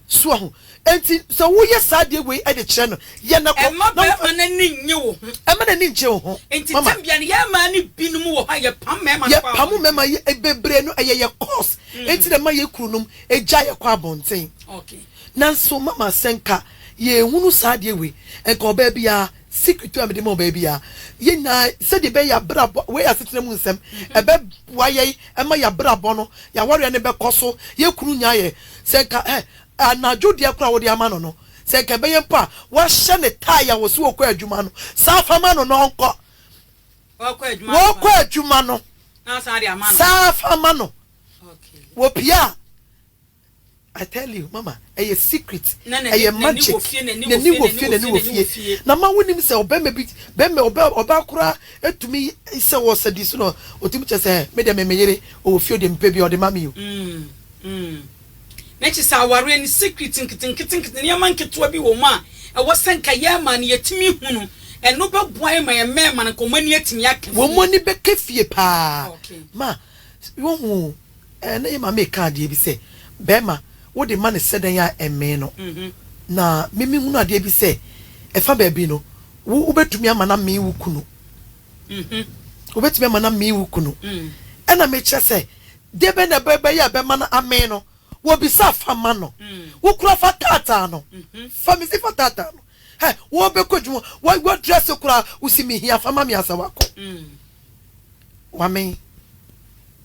C: soa ho. Enti sɛ woyɛ saa adeɛ wei de kyerɛ no, yɛ no kɔ. Mma barima no ani nnye
A: wo ho. Mma n'ani nnkye wo ho.
C: Enti tebea no, yɛn
A: mmaa no binom wɔ hɔ a, yɛpam mmarima no kɔ abɔnten. Yɛpam
C: mmarima yi, bebree no, ɛyɛ yɛn course. Enti na ɛma yɛn kununom gyae yɛn kɔ abɔnten. Nanso mama, sɛ nka
A: yɛnhunu
C: saa adeɛ wei, nka ɔbaa biara, secret a mede ma ɔbaa biara, yɛn nyinaa, sɛdeɛ ɛbɛyɛ yɛabrabɔ, wei yɛ asetena mu nsɛm, ɛbɛboa yɛn ma yɛabrabɔ no, yɛn awareɛ no bɛkɔ so, yɛn kunu nyaa yɛn, Sɛ nka, eh, anadwo deɛ koraa a wode ama no no, sɛ nka ɛbɛyɛ mpo a wahyɛ ne tae a wɔsi wɔkɔ adwuma no, san fa ma no na ɔnkɔ. Wɔkɔ adwuma no,
A: san fa ma no. Wɔpie a,
C: I tell you, mama, ɛyɛ secret, ɛyɛ magic, n'ani wɔ fie, n'ani wɔ fie. Na ma wonim sɛ ɔbɛma bi, bɛma ɔbɛ, ɔbaa koraa etumi sɛ wɔ sɛ di so na ɔtumi kyɛ sɛ, me deɛ me me yere, ɔwɔ fie ɔde mpɛ bi a ɔde ma me o.
A: Mm. Na kyerɛ sɛ awareɛ no secret nketenketenkete, nneɛma nketewa bi wɔ mu a ɛwɔ sɛ nka yɛn mmaa no yɛtumi hu no. Ɛno bɛboa yɛn ma yɛn mmarima no nka wɔn ani atumi aka fie. Wɔn ani bɛka
C: fie paa. Okay. Ma, wohu, ɛɛ, na yɛn maame reka adeɛ bi sɛ, barima, wode ma no sɛdɛn a ɛmmee no. Mhm. Na me mehunu adeɛ bi sɛ, ɛfa baabi no, wo, wobɛtumi ama no amee wo kunu. Obetumi ama no amee wo kunu. Ɛna mekyerɛ sɛ, de bɛn na ɛbɛyɛ a ɛbɛma no amee no? Wɔbisaa, Fa ma no. Wo koraa fa taataa no. Fa, mise fa taataa no. Hɛ, wɔrebɛkɔ adwuma, wadrɛse koraa, wose mehia, fa ma me ansa wakɔ. Wamee.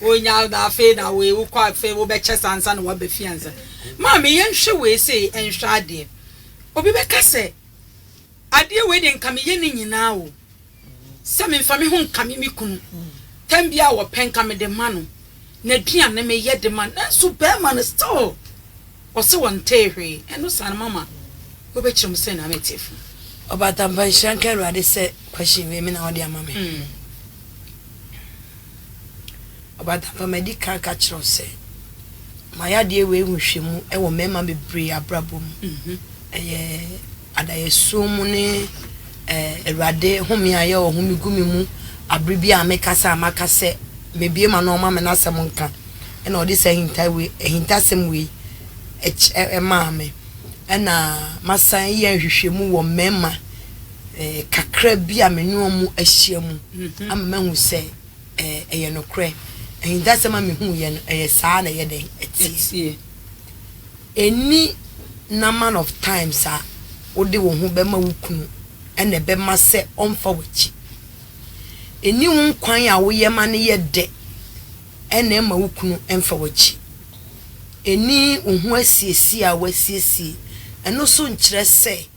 A: Wonya wo na afei na wei wokɔ a afei wobɛkyɛ saa ansa na woaba fie ansa. Maame yɛnhwɛ wei sei nhwɛ adeɛ. Obi bɛka sɛ adeɛ wei deɛ nka meyɛ ne nyinaa o. Sɛ memfa me ho nkame me kunu. Tam bi a wɔpɛ nka mede ma no. N'aduane meyɛ de ma no. Nanso bɛrima no still ɔse ɔntee hwee. Ɛno saa no mama wobɛkyerɛ mu sɛ na mete fam. Ɔbatampa
B: nhyira nka Awurade sɛ question wei me na wode ama me. Ɔbadamma, madi kan aka akyerɛ wo sɛ m'ayɛadeɛ wei ho hwɛ mu wɔ mmarima bebree abrabɔ mu. Ɛyɛ adaeɛsoɔ mu ne Awurade home a yɛwɔ home gu me mu abere bi a mekasa a maka sɛ mebue ma no ɔma me n'asɛm nka ɛna ɔde saa ahinta wei ahintasɛm wei ɛkyɛ ɛmaa me ɛna masan yɛ nhwehwɛmu wɔ mmarima Kakra bi a me ne wɔn ahyia mu ama mahu sɛ ɛyɛ nokorɛ. Ahintasɛm a mehuiɛ no, ɛyɛ saa na ɛyɛ dɛn? Ɛteɛ. Ɛnni number of times a wode wo ho bɛma wo kunu na ɛbɛma sɛ ɔmfa w'akyi. Ɛnni wo nkwan a woyɛ ma no yɛ dɛ na ɛma wo kunu mfa w'akyi. Ɛnni wo ho asiesie a woasiesie. Ɛno nso nkyerɛ sɛ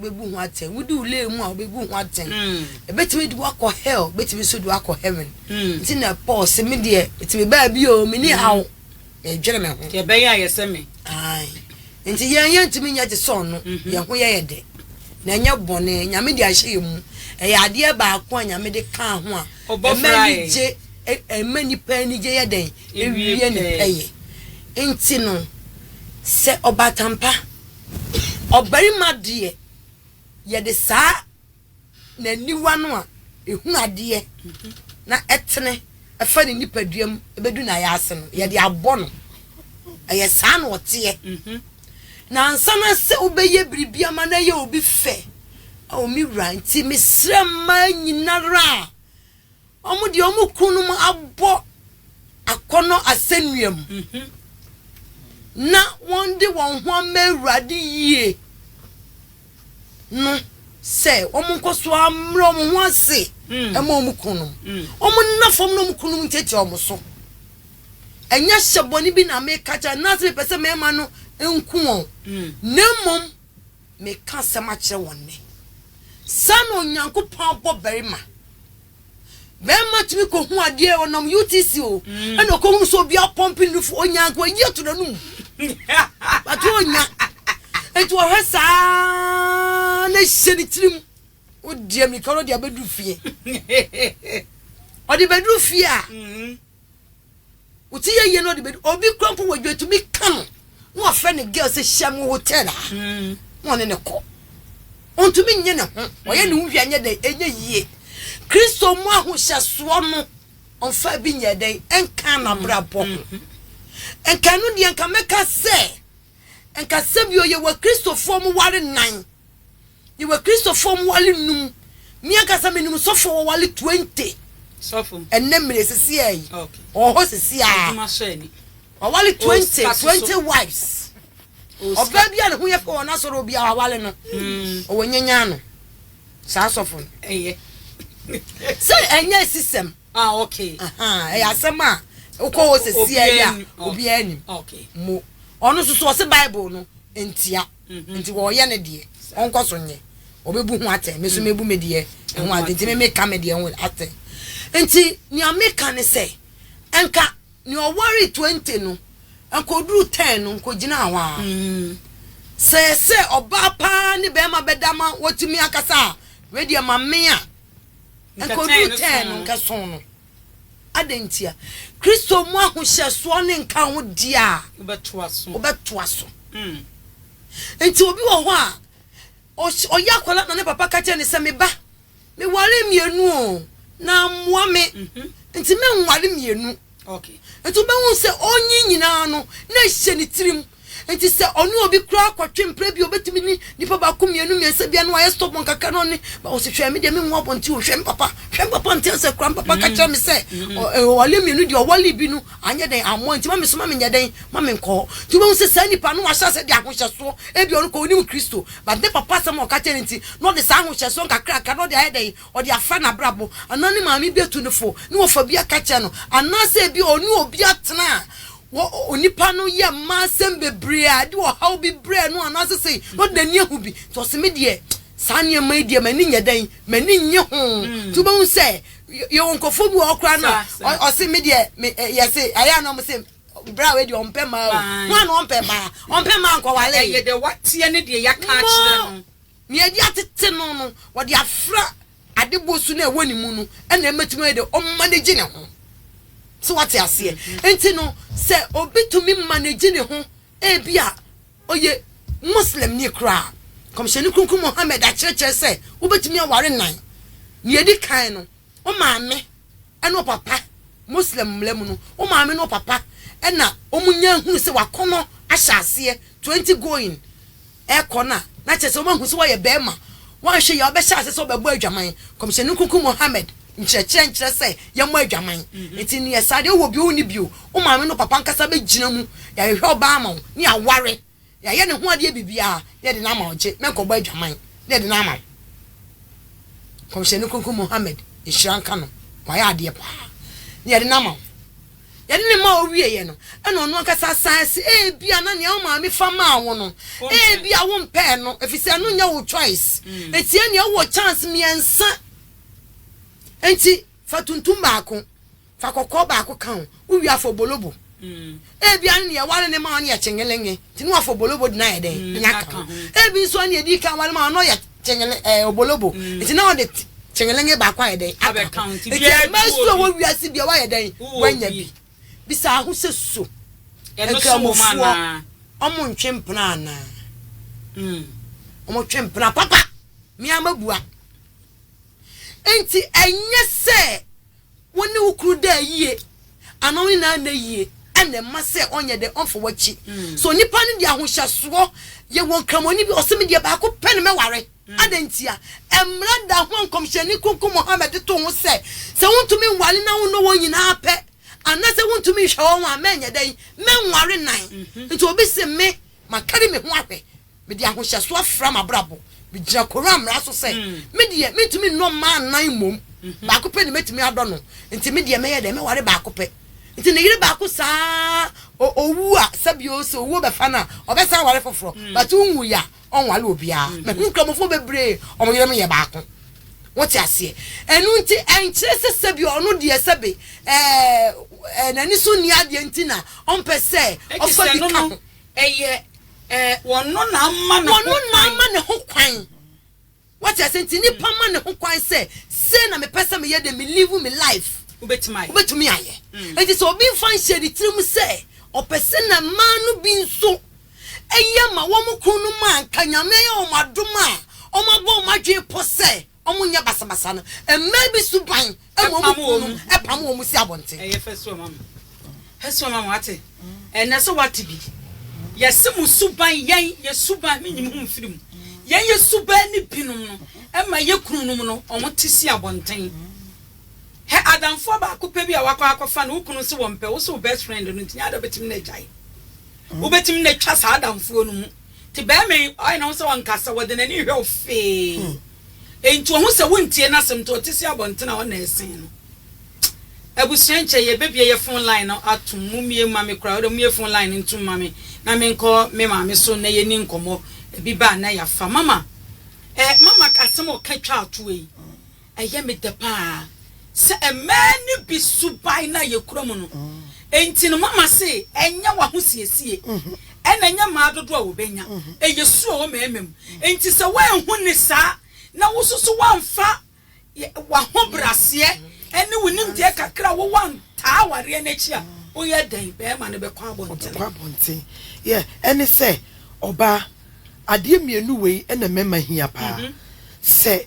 B: wobebu ho atɛn wodi wo lee mu a wobebu ho atɛn mm. ebetumi de wakɔ hell ebetumi nso de wakɔ heaven mm. nti na paul sɛ me deɛ etumi baa bi o me ni mm. haw na edwere me ho deɛ bɛyɛ ayɛ sɛ
A: me
B: nti yɛn yɛn ntumi nyɛ te sɛ ɔno mhm. yɛn ho yɛ yɛ dɛ na ɛnyɛ bɔne nyame de ahyɛ yɛn mu ɛyɛ adeɛ baako a nyame de kaa ho a ɛma anigye ɛma nipa anigye yɛ dɛn ewie ne pɛyɛ nti no sɛ ɔbatampa. Ɔbarima deɛ, yɛde saa n'aniwa no a ɛhunu adeɛ na ɛtene fa ne nipadua mu bɛdu n'ayaase no, yɛde abɔ no. Ɛyɛ saa na ɔteɛ. Na ansa na sɛ wobɛyɛ biribi ama no ayɛ obi fɛ, ao me wura, nti mesrɛ mmaa nyinara a Wɔn deɛ wɔn kununom abɔ akɔnnɔ asɛnnua mu, na wɔde wɔn ho ama Awurade yie no sɛ wɔnkɔ so ammrɛ wɔn ho ase mma wɔn kununom. Wɔnna fam na wɔn kununom ntiatia wɔn so. Ɛnyɛ hyɛ bɔne bi na meka kyerɛ anaasɛ mepɛ sɛ mmarima no nku wɔn, na mmom Mereka asɛm akyerɛ wɔn nnɛ. Saa na Onyankopɔn abɔ barima. Barima tumi kɔhu adeɛ, ɔnam UTC o, ɛna ɔkɔhunu sɛ obi apɔmpe ne nufu, ɔnya nka wayi ato n'anum. Bate ɔnya. Nti ɔhwɛ saa na hyɛ ne tirim. Ɔdi amirika no ɔde abɛduru fie. Ɔde bɛduru fie a. wote yɛ yie na ɔde bɛdi obi kura mpo wɔ adwuma tumi ka no na wafrɛ ne girl sɛ hyia mu hotel a hmm. na ɔne ne kɔ ɔntumi nye ne ho ɔyɛ ne ho hwɛ anyɛ dɛn ɛnyɛ yie kristo mu ahohyɛsoɔ no ɔmfa bi nyɛ dɛn ɛnka n'abrabɔ ho hmm. nka ɛno deɛ nka mɛka sɛ nka sɛbi ɔyɛ wɔ kristofoɔ mu ware nan Yɛwɔ Kristofoɔ mowale nnum. Me ankasa menim sɔfoɔ a wawale twenty
A: ɛnnɛ mmerɛ yi seseɛ
B: yi. Ɔwɔ hɔ seseɛ
A: ara. Wawale twenty,
B: twenty wives. Ɔbaa bi a ne ho yɛ fɛ wɔ n'asɔre obi a wawale no. Ɔwɔ nyanyaa no. Saa sɔfo no. Sɛ ɛnyɛ asisɛm.
A: Ɛyɛ asɛm
B: a wokɔ hɔ seseɛ yi a obiara nim. Mo.
A: Ɔno nso
B: so ɔse Bible no ntia. Nti ɔɔyɛ ne deɛ, ɔnkɔ so nyɛ. Ɔbɛbu ho atɛn, me nso mɛbu me deɛ ho atɛn. Nti me meka me deɛ ho atɛn. Nti nea meka ne sɛ, nka nea ɔwaree twenty no, nka ɔduru ten no, nka ɔgyinaa hɔ ara. Sɛ sɛ ɔbaa pa ara ne barima bɛda ma wɔatumi akasa a, wei deɛ ma me a, nka ɔduru ten no, nka ɛsõ no. Adɛn ntia? Kristo mu ahohyɛsoɔ ne nka ho deɛ a, wobɛtoa so. Nti obi wɔ hɔ a, ɔyɛ akwadaa na ne papa ka kyerɛ ne sɛ, me ba, meware mmienu o, na mmoa me, mhm. nti menware mmienu. Nti
A: wobɛhu sɛ
B: ɔnyi nyinaa no, na ɛhyɛ ne tirim. Enti sɛ ɔne obi koraa kɔtwe mpra bi a obetumi ne nipa baako mmienu mmiɛnsa bi a na wayɛ stubborn kakra na ɔne ba ɔsi hwɛ me deɛ me nwo abɔnten o hwɛ me papa hwɛ me papa nte asɛ koraa me papa ka kyerɛ me sɛ ɔwale mmienu deɛ ɔwale bi no anyɛ dɛn ammɔ nti ma me so ma me nyɛ dɛn ma me nkɔ hɔ nti wobɛhu sɛ saa nipa no wahyɛ asɛ de ahohyɛsoɔ ebi ɔno kɔ onim kristo but ne papa asɛm a ɔka kyerɛ no nti na ɔde saa ahohyɛsoɔ nkakrakra na ɔde ayɛ dɛn ɔde afra n'abrabɔ anaa ne maame bi atu no fo ne wɔfa bi aka kyerɛ no anaasɛ ebi ɔne obi atena a Wɔ onipa no yɛ mma asɛm bebree a ɛde ɔhaw bi brɛ no anaasɛ sɛ na ɔde n'ani ahu bi nti ɔse me deɛ saa nneɛma yi deɛ m'ani nyɛ dɛn m'ani nnye ho nti wobɛhu sɛ yɛwɔ nkurɔfoɔ bi wɔ hɔ koraa no a ɔse me deɛ me yɛse ayɛ a na ɔmo se berɛ a wɔadi ɔmpɛ mmaa o ho a na ɔmpɛ mmaa ɔmpɛ mmaa nkɔwale ɛyɛ deɛ wateɛ ne
A: deɛ yɛaka akyerɛ no nea yɛde atete
B: no no wɔde afra Adebɔ su no a ɛwɔ ne mu no na ɛbɛtumi ayɛ dɛ ɔmanegye ne ho. So wate aseɛ? Nti no, sɛ obi tumi manegye ne ho, ebi a ɔyɛ Muslimni koraa, Nkɔmhyɛni Kronkron Muhammad akyerɛkyerɛ sɛ wobɛtumi aware nnan. Nea ɛdi kan no, wo maame ne wo papa, Muslim mmara mu no, wo maame ne wo papa na wɔnya hunu sɛ w'akɔnnɔ ahyɛ aseɛ, 20 going, ɛrekɔ no a, na kyerɛ sɛ wɔahu sɛ woayɛ barima. Woanhwɛ yie a, wobɛhyɛ ase sɛ wobɛbɔ adwaman. Nkɔmhyɛni Nkonkwo Muhammad nkyerɛkyerɛ nkyerɛ sɛ yɛmmɔ adwaman. Enti nyɛ saa. Deɛ wowɔ bio wonni bio. Wo maame ne wo papa ankasa bɛgyina mu. Yɛahwehwɛ ɔbaa ama wo ne aware. Yɛayɛ ne ho adeɛ biribiara na yɛde no ama wo. Gye menkɔbɔ adwaman na yɛde no ama wo. Nkɔmhyɛni Nkonkwo Muhammad nhyira nka no, wayɛ adeɛ paa na yɛde no ama wo. Yɛde no maa owieeɛ no, ɛnna ɔno ankasa san se, Ebia na nea wo maame fa maa wo no, ebia wompɛɛ no, efisɛ ɛno nyɛ wo choice. Enti ɛnneɛ wowɔ chance mmiɛnsa. Enti fa tuntum baako, fa kɔkɔɔ baako ka ho, wowie a fa obolobo. Ebia ne nea ɛware no maa wo no yɛ kyengelenge, nti na wafa obolobo de no ayɛ dɛn? Nya ka ho. Ebi nso a nea ɛdi kan ware maa wo no yɛ kyengelen ɛɛ obolobo nti na ɔde kyengelenge baako ayɛ dɛn aka ho nti
A: mmaa su a ɛwɔ
B: wiase bia wayɛ dɛn wanya bi bisa ho sɛ so
A: nkramofoɔ ɔmo ntwe mpena
B: anaa ɔmo twe mpena papa mmea mabua nti ɛnyɛ sɛ. Wo ne wo kunu da yie anaa wo nyinaa nna yie na ɛma sɛ ɔnyɛ dɛ ɔmfa w'akyi. So nnipa no de ahohyɛsoɔ yɛ wɔn Kramoni bi a ɔse me deɛ baako pɛ na mɛware. Adɛn ntia? Mmara da ho a Nkɔmhyɛni Kronkron Muhammad de too ho sɛ, sɛ wontumi nware na wonnɔ wɔn nyinaa pɛ anaasɛ wontumi nhwɛ wɔn a, mɛnyɛ dɛn? Mɛnware nnan. Nti obi se me makari me ho ahwɛ Mede ahohyɛso afra m'abrabɔ. Migyina Koran mmara so sɛ, Me deɛ, mintumi nnɔ mmaa nnan mmom. Baako pɛ na metumi adɔ no. Enti me deɛ, mɛyɛ dɛn? Mɛware baako pɛ. Enti ne yere baako saa ara, owu a, sɛbi o, sɛ owuo bɛfa no a, ɔbɛsan aware foforɔ. But onwui a, ɔnware obiara. Mahu Nkramofoɔ bebree, wɔn yerenom yɛ baako. Wote aseɛ? Ɛno nti, ɛnkyerɛ sɛ sɛbi ɔno deɛ sɛbe ɛɛ, ɛɛ, n'ani so nni adeɛ nti na ɔmpɛ sɛ ɔfa bi ka ho. Ɛyɛ
A: eh, ɔno na ama ne ho kwan. Ɔno na ama ne ho
B: kwan. Wate ase nti nipa ma ne ho kwan sɛ sei na mepɛ sɛ meyɛ de me live me life. Wobɛtumi ayɛ. Wobɛtumi ayɛ. Nti sɛ obi mfa nhyɛ ne tirim sɛ ɔpɛ sɛ na mmaa no bi nso yɛ ma wɔn kununom a nka Nyame ayɛ wɔn adom a wɔabɔ wɔn adwene pɔ sɛ Wɔn nyɛ basabasa no, mmaa bi suban ma wɔn kununom pam wɔn si abɔnten. Ɛyɛ fasuo ma me,
A: fasuo ma me, wate? Ɛnɛ sɛ wate bi, yɛse mo suban, yɛn, yɛ suban, me nyim ho mfiri mu, yɛn yɛ suban ne binom no ma yɛ kununom no wɔn te si abɔnten. Hɛ adamfoɔ baako pɛ bi a wakɔ akɔfa no, wo kunu se wɔmpɛ, wo se wo best friend no nti, nyɛ adeɛ a wobɛtumi no agyae. Wobɛtumi no atwa saa adamfoɔ no mu. Nti bɛɛma yi ɔyɛ ne ho sɛ ɔnkasa, ɔde n'ani hwɛ wo fee. Nti ohu sɛ wontie n'asɛm nti ɔte se abɔnten a ɔnna ɛsen no. Abusua nkyɛ yɛbɛbie yɛ phone line no atom, mo mmie mma me koraa, wode mue phone line no ntom ma me na menkɔ me maame so na yɛni nkɔmmɔ, ebi ba a na yɛafa. Mama, eh, mama asɛm a ɔka twa ato wei. Ɛyɛ me dɛ paa sɛ mmaa no bi suban no a yɛkura mu no nti no mama se ɛnyɛ w'ahosiesie na ɛnyɛ mmaa dodoɔ a wɔbɛnya. Ɛyɛ su a ɛwɔ mmarima mu. Nti sɛ woanhu no saa na wo nso so woamfa w'ahobraseɛ ne wo nimdeɛ kakra a wowɔ antaa awareɛ no akyi a, woyɛ dɛn? Barima no bɛkɔ abɔntene. Ɔbɛkɔ abɔntene. Yɛ ɛne
C: sɛ ɔbaa adeɛ mmienu wei na mmarima hia paa. Sɛ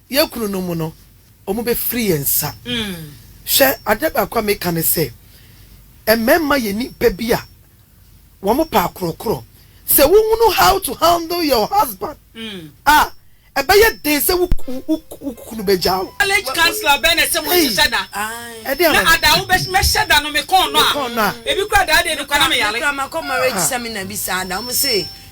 C: yɛn kununom no, wɔbɛfiri yɛn nsa. Hwɛ, adeɛ baako a meka ne sɛ, mmarima yɛ nnipa bi a wɔpɛ akorɔkorɔ. Sɛ wohunu how to handle your husband a, ɛbɛyɛ den sɛ wo kunu bɛgya wo. Marriage counsellor bɛn
A: na ɛsɛ sɛ monhyehyɛ da, na ada a wobɛhyɛ da no mekɔɔ no a, ebi koraa da a ɛdeɛ no kora
B: na meyare.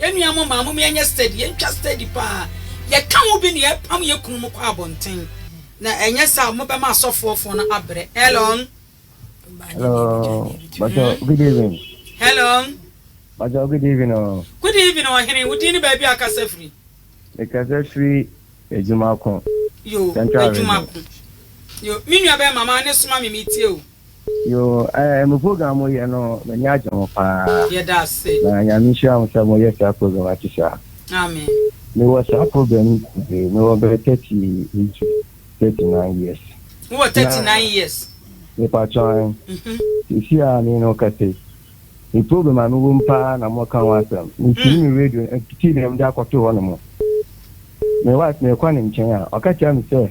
A: Yɛn nua mo maa mo me ɛnyɛ steady yɛn twa steady paa yɛ ka ho bi na yɛ pam yɛ kunu mo kɔ abɔnten na ɛnyɛ saa mo bɛ ma asɔfoɔ foɔ no abrɛ hello. Hello,
D: Bajo, good evening. Hello.
A: Bajo, good
D: evening. Oh. Good evening, Ohene.
A: Wo din ne baabi a kasa firi? Me kasa
D: firi adwuma ko. Yo,
A: adwuma ko. Yo, me nua bɛɛ mama ne soma me metie o. Yoo eh
D: mo program mo yɛ no m'ani agye ho paa Yɛda ase. na
A: nyame nhyira mo sɛ
D: mo yɛ saa program ate saa. Amen.
A: Me wɔ saa
D: program yi bebree me wɔ bɛyɛ thirty eight to thirty nine years. Wo wɔ thirty Na nine
A: years. me patrɔ
D: an Mhm. sisi a me ne wo kasa yi me program a me wɔ mu paa na mo ka ho asɛm me tune me radio eh TV na me de akɔto hɔ nom me wife me kɔ ne nkyɛn a ɔka kyerɛ me sɛ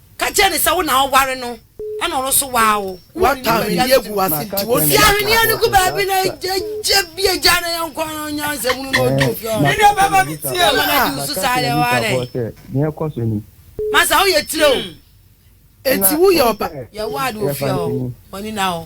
B: Ka kyerɛ no sɛ wo na woware no na ɔno nso waa wo. Woatɔ ahweneɛ agu
C: w'ase nti wosuro. Fi ahweneɛ no gu baabi
B: na gye bi agya na yɛnkɔ na ɔnya nsɛmunu na ɔdi ofie hɔ. Me deɛ bɛma me tie o.
A: Mama no adi wo so saa deɛ
B: woa dɛn?
D: Masa woyɛ tire
B: o. Enti
C: woyɛ ɔba. Yɛwɔ ade ofie
B: hɔ. W'ani nna hɔ.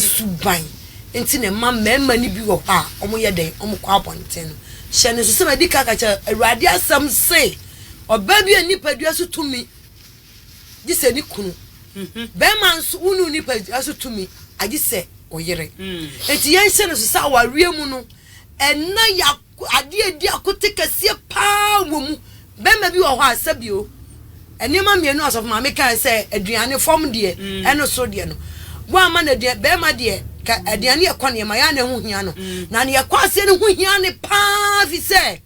B: suban nti na ɛma mmarima no bi wɔ hɔ a wɔyɛ dɛn? Wɔkɔ abɔnten no. Hyɛ no nso sɛ madi kan aka sɛ Awurade asɛm se, Ɔbaa biara nni nipadua so tumi, gye sɛ ne kunu. Barima nso, wonni wo nipadua so tumi, agye sɛ wo yere. Enti yɛnhyɛ no nso sɛ awareɛ mu no, ɛnna yɛ Adeɛ a ɛdi akote kɛseɛ pa ara wɔ mu. Barima bi wɔ hɔ a, sɛbio, nneɛma mmienu a Ɔsɔfo Maame kaeɛ sɛ aduane, fam deɛ, ne soro deɛ no, woamma no aduane, barima deɛ, ka, aduane yɛ kɔneɛ ma, ɛyɛ a na ɛho hia no. Na deɛ ɛkɔ aseɛ no ho hia no pa ara, ɛfiri sɛ,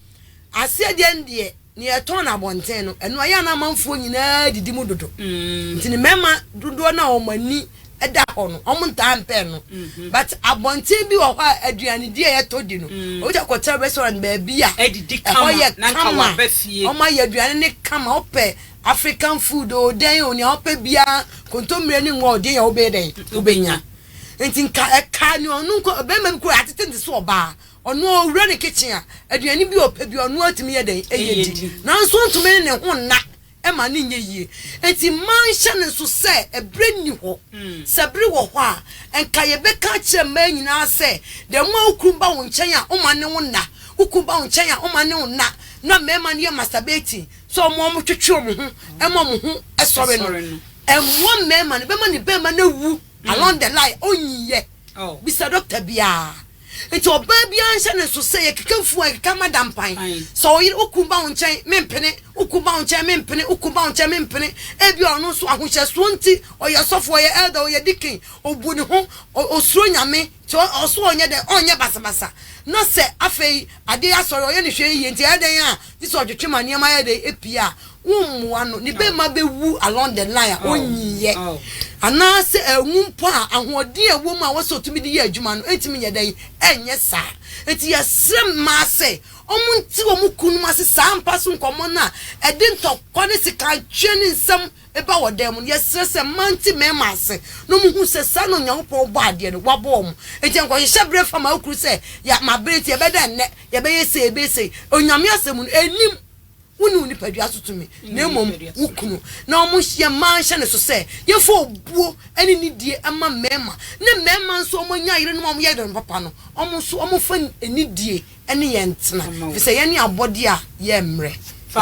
B: aseɛ deɛ no deɛ, Nea ɛtɔn no abɔnten no, ɛno ayɛ a na amanfoɔ nyinaa didi mu dodo. Nti ne mmarima dodoɔ no a wɔn ani da hɔ no, wɔntaa mpɛ ɛno. But abɔnten bi wɔ hɔ a aduanedi a yɛtɔ di no, obi tumi kɔtena restaurant baabi a ɛhɔ yɛ
A: kama, wɔayɛ aduane no
B: kama, wopɛ African food o, dɛn o, nea wopɛ biara, kontommire ne ngo a ɔde yɛ a wobɛyɛ dɛn? Wobɛnya. Nti nka ɛkaa nea ɔno nko, ɔbarima bi koraa yɛatete ne se sɛ ɔbaa, Ɔno a ɔwura ne kitchen a, aduane bi a ɔpɛ biara ɔno ara tumi yɛ dɛn? Ɛyɛ di. Nanso ɔntumi ne ne ho nna ma no nyɛ yie. Enti mma nhyɛ no nso sɛ ɛberɛ nni hɔ. Sɛ bere wɔ hɔ a, anka yɛbɛka akyerɛ mmaa nyinaa sɛ, da mu a wo kunu ba wo nkyɛn a, woma ne wo nna. Wo kunu ba wo nkyɛn a, woma ne wo nna. Na mmarima no yɛ masturbating, sɛ wɔn a wɔtwetwe wɔn ho ma wɔn ho sɔre no, ɛmmoa mmarima no, ɛbɛma ne barima no awu along the line, ɔnyiiɛ. Bisa dɔkta biara. Nti ɔbaa biara nhyɛ ne nso sɛ yɛkeka fuo a yɛkeka mada mpan. Sɛ wo yere wo kunu ba wo nkyɛn mempene, wo kunu ba wo nkyɛn mempene, wo kunu ba wo nkyɛn mempene. Ebia ɔno nso ahohyɛsoɔ nti ɔyɛ sɔfo, ɔyɛ elder, ɔyɛ deacon, ɔbu ne ho, ɔsuro Nyame nti ɔso ɔnyɛ dɛn, ɔnyɛ basabasa. Na sɛ afei adeɛ yɛ asɔre ɔyɛ no hwee yie nti ɛyɛ dɛn a Gye sɛ ɔtwetwe ma nneɛma yɛ dɛ pii a wommoa no. Ne bɛmma bɛwu along the line a ɔnyiiɛ anaasɛ awu mpo a ahoɔden a ɛwɔ mu a ɛwɔ sɛ ɔtumi de yɛ adwuma no ntumi nyɛ dɛn nyɛ saa. Enti yɛsrɛ mmaa sɛ wɔnte wɔn kununom ase saa mpa so nkɔmmɔ no a ɛde ntɔkwa ne sekanteɛ ne nsɛm ba wɔ dan mu no. Yɛsrɛ sɛ mmaa nte mmarima ase na wɔnhu sɛ saa na Onyankopɔn bɔɔ adeɛ no, wabɔ wɔn. Enti nkɔhyehyɛ berɛ fa ma wo kunu sɛ, ya, mabrɛ nti ɛbɛda nnɛ. Yɛbɛyɛ sei, yɛbɛyɛ sei. Onyame asɛm mu no, ɛnim wo ne wo nipadua so tumi, na mmom wo kunu. Na wɔn yɛ mmaa nhyɛ ne so sɛ yɛmfa obuo ne nidie mma mmarima, ne mmarima nso wɔn anya yerenom a wɔyɛ yerenom papa no, wɔn nso wɔmfa nidie ne yɛn ntena, ɛfiri sɛ yɛne abɔdeɛ a yɛmmrɛ.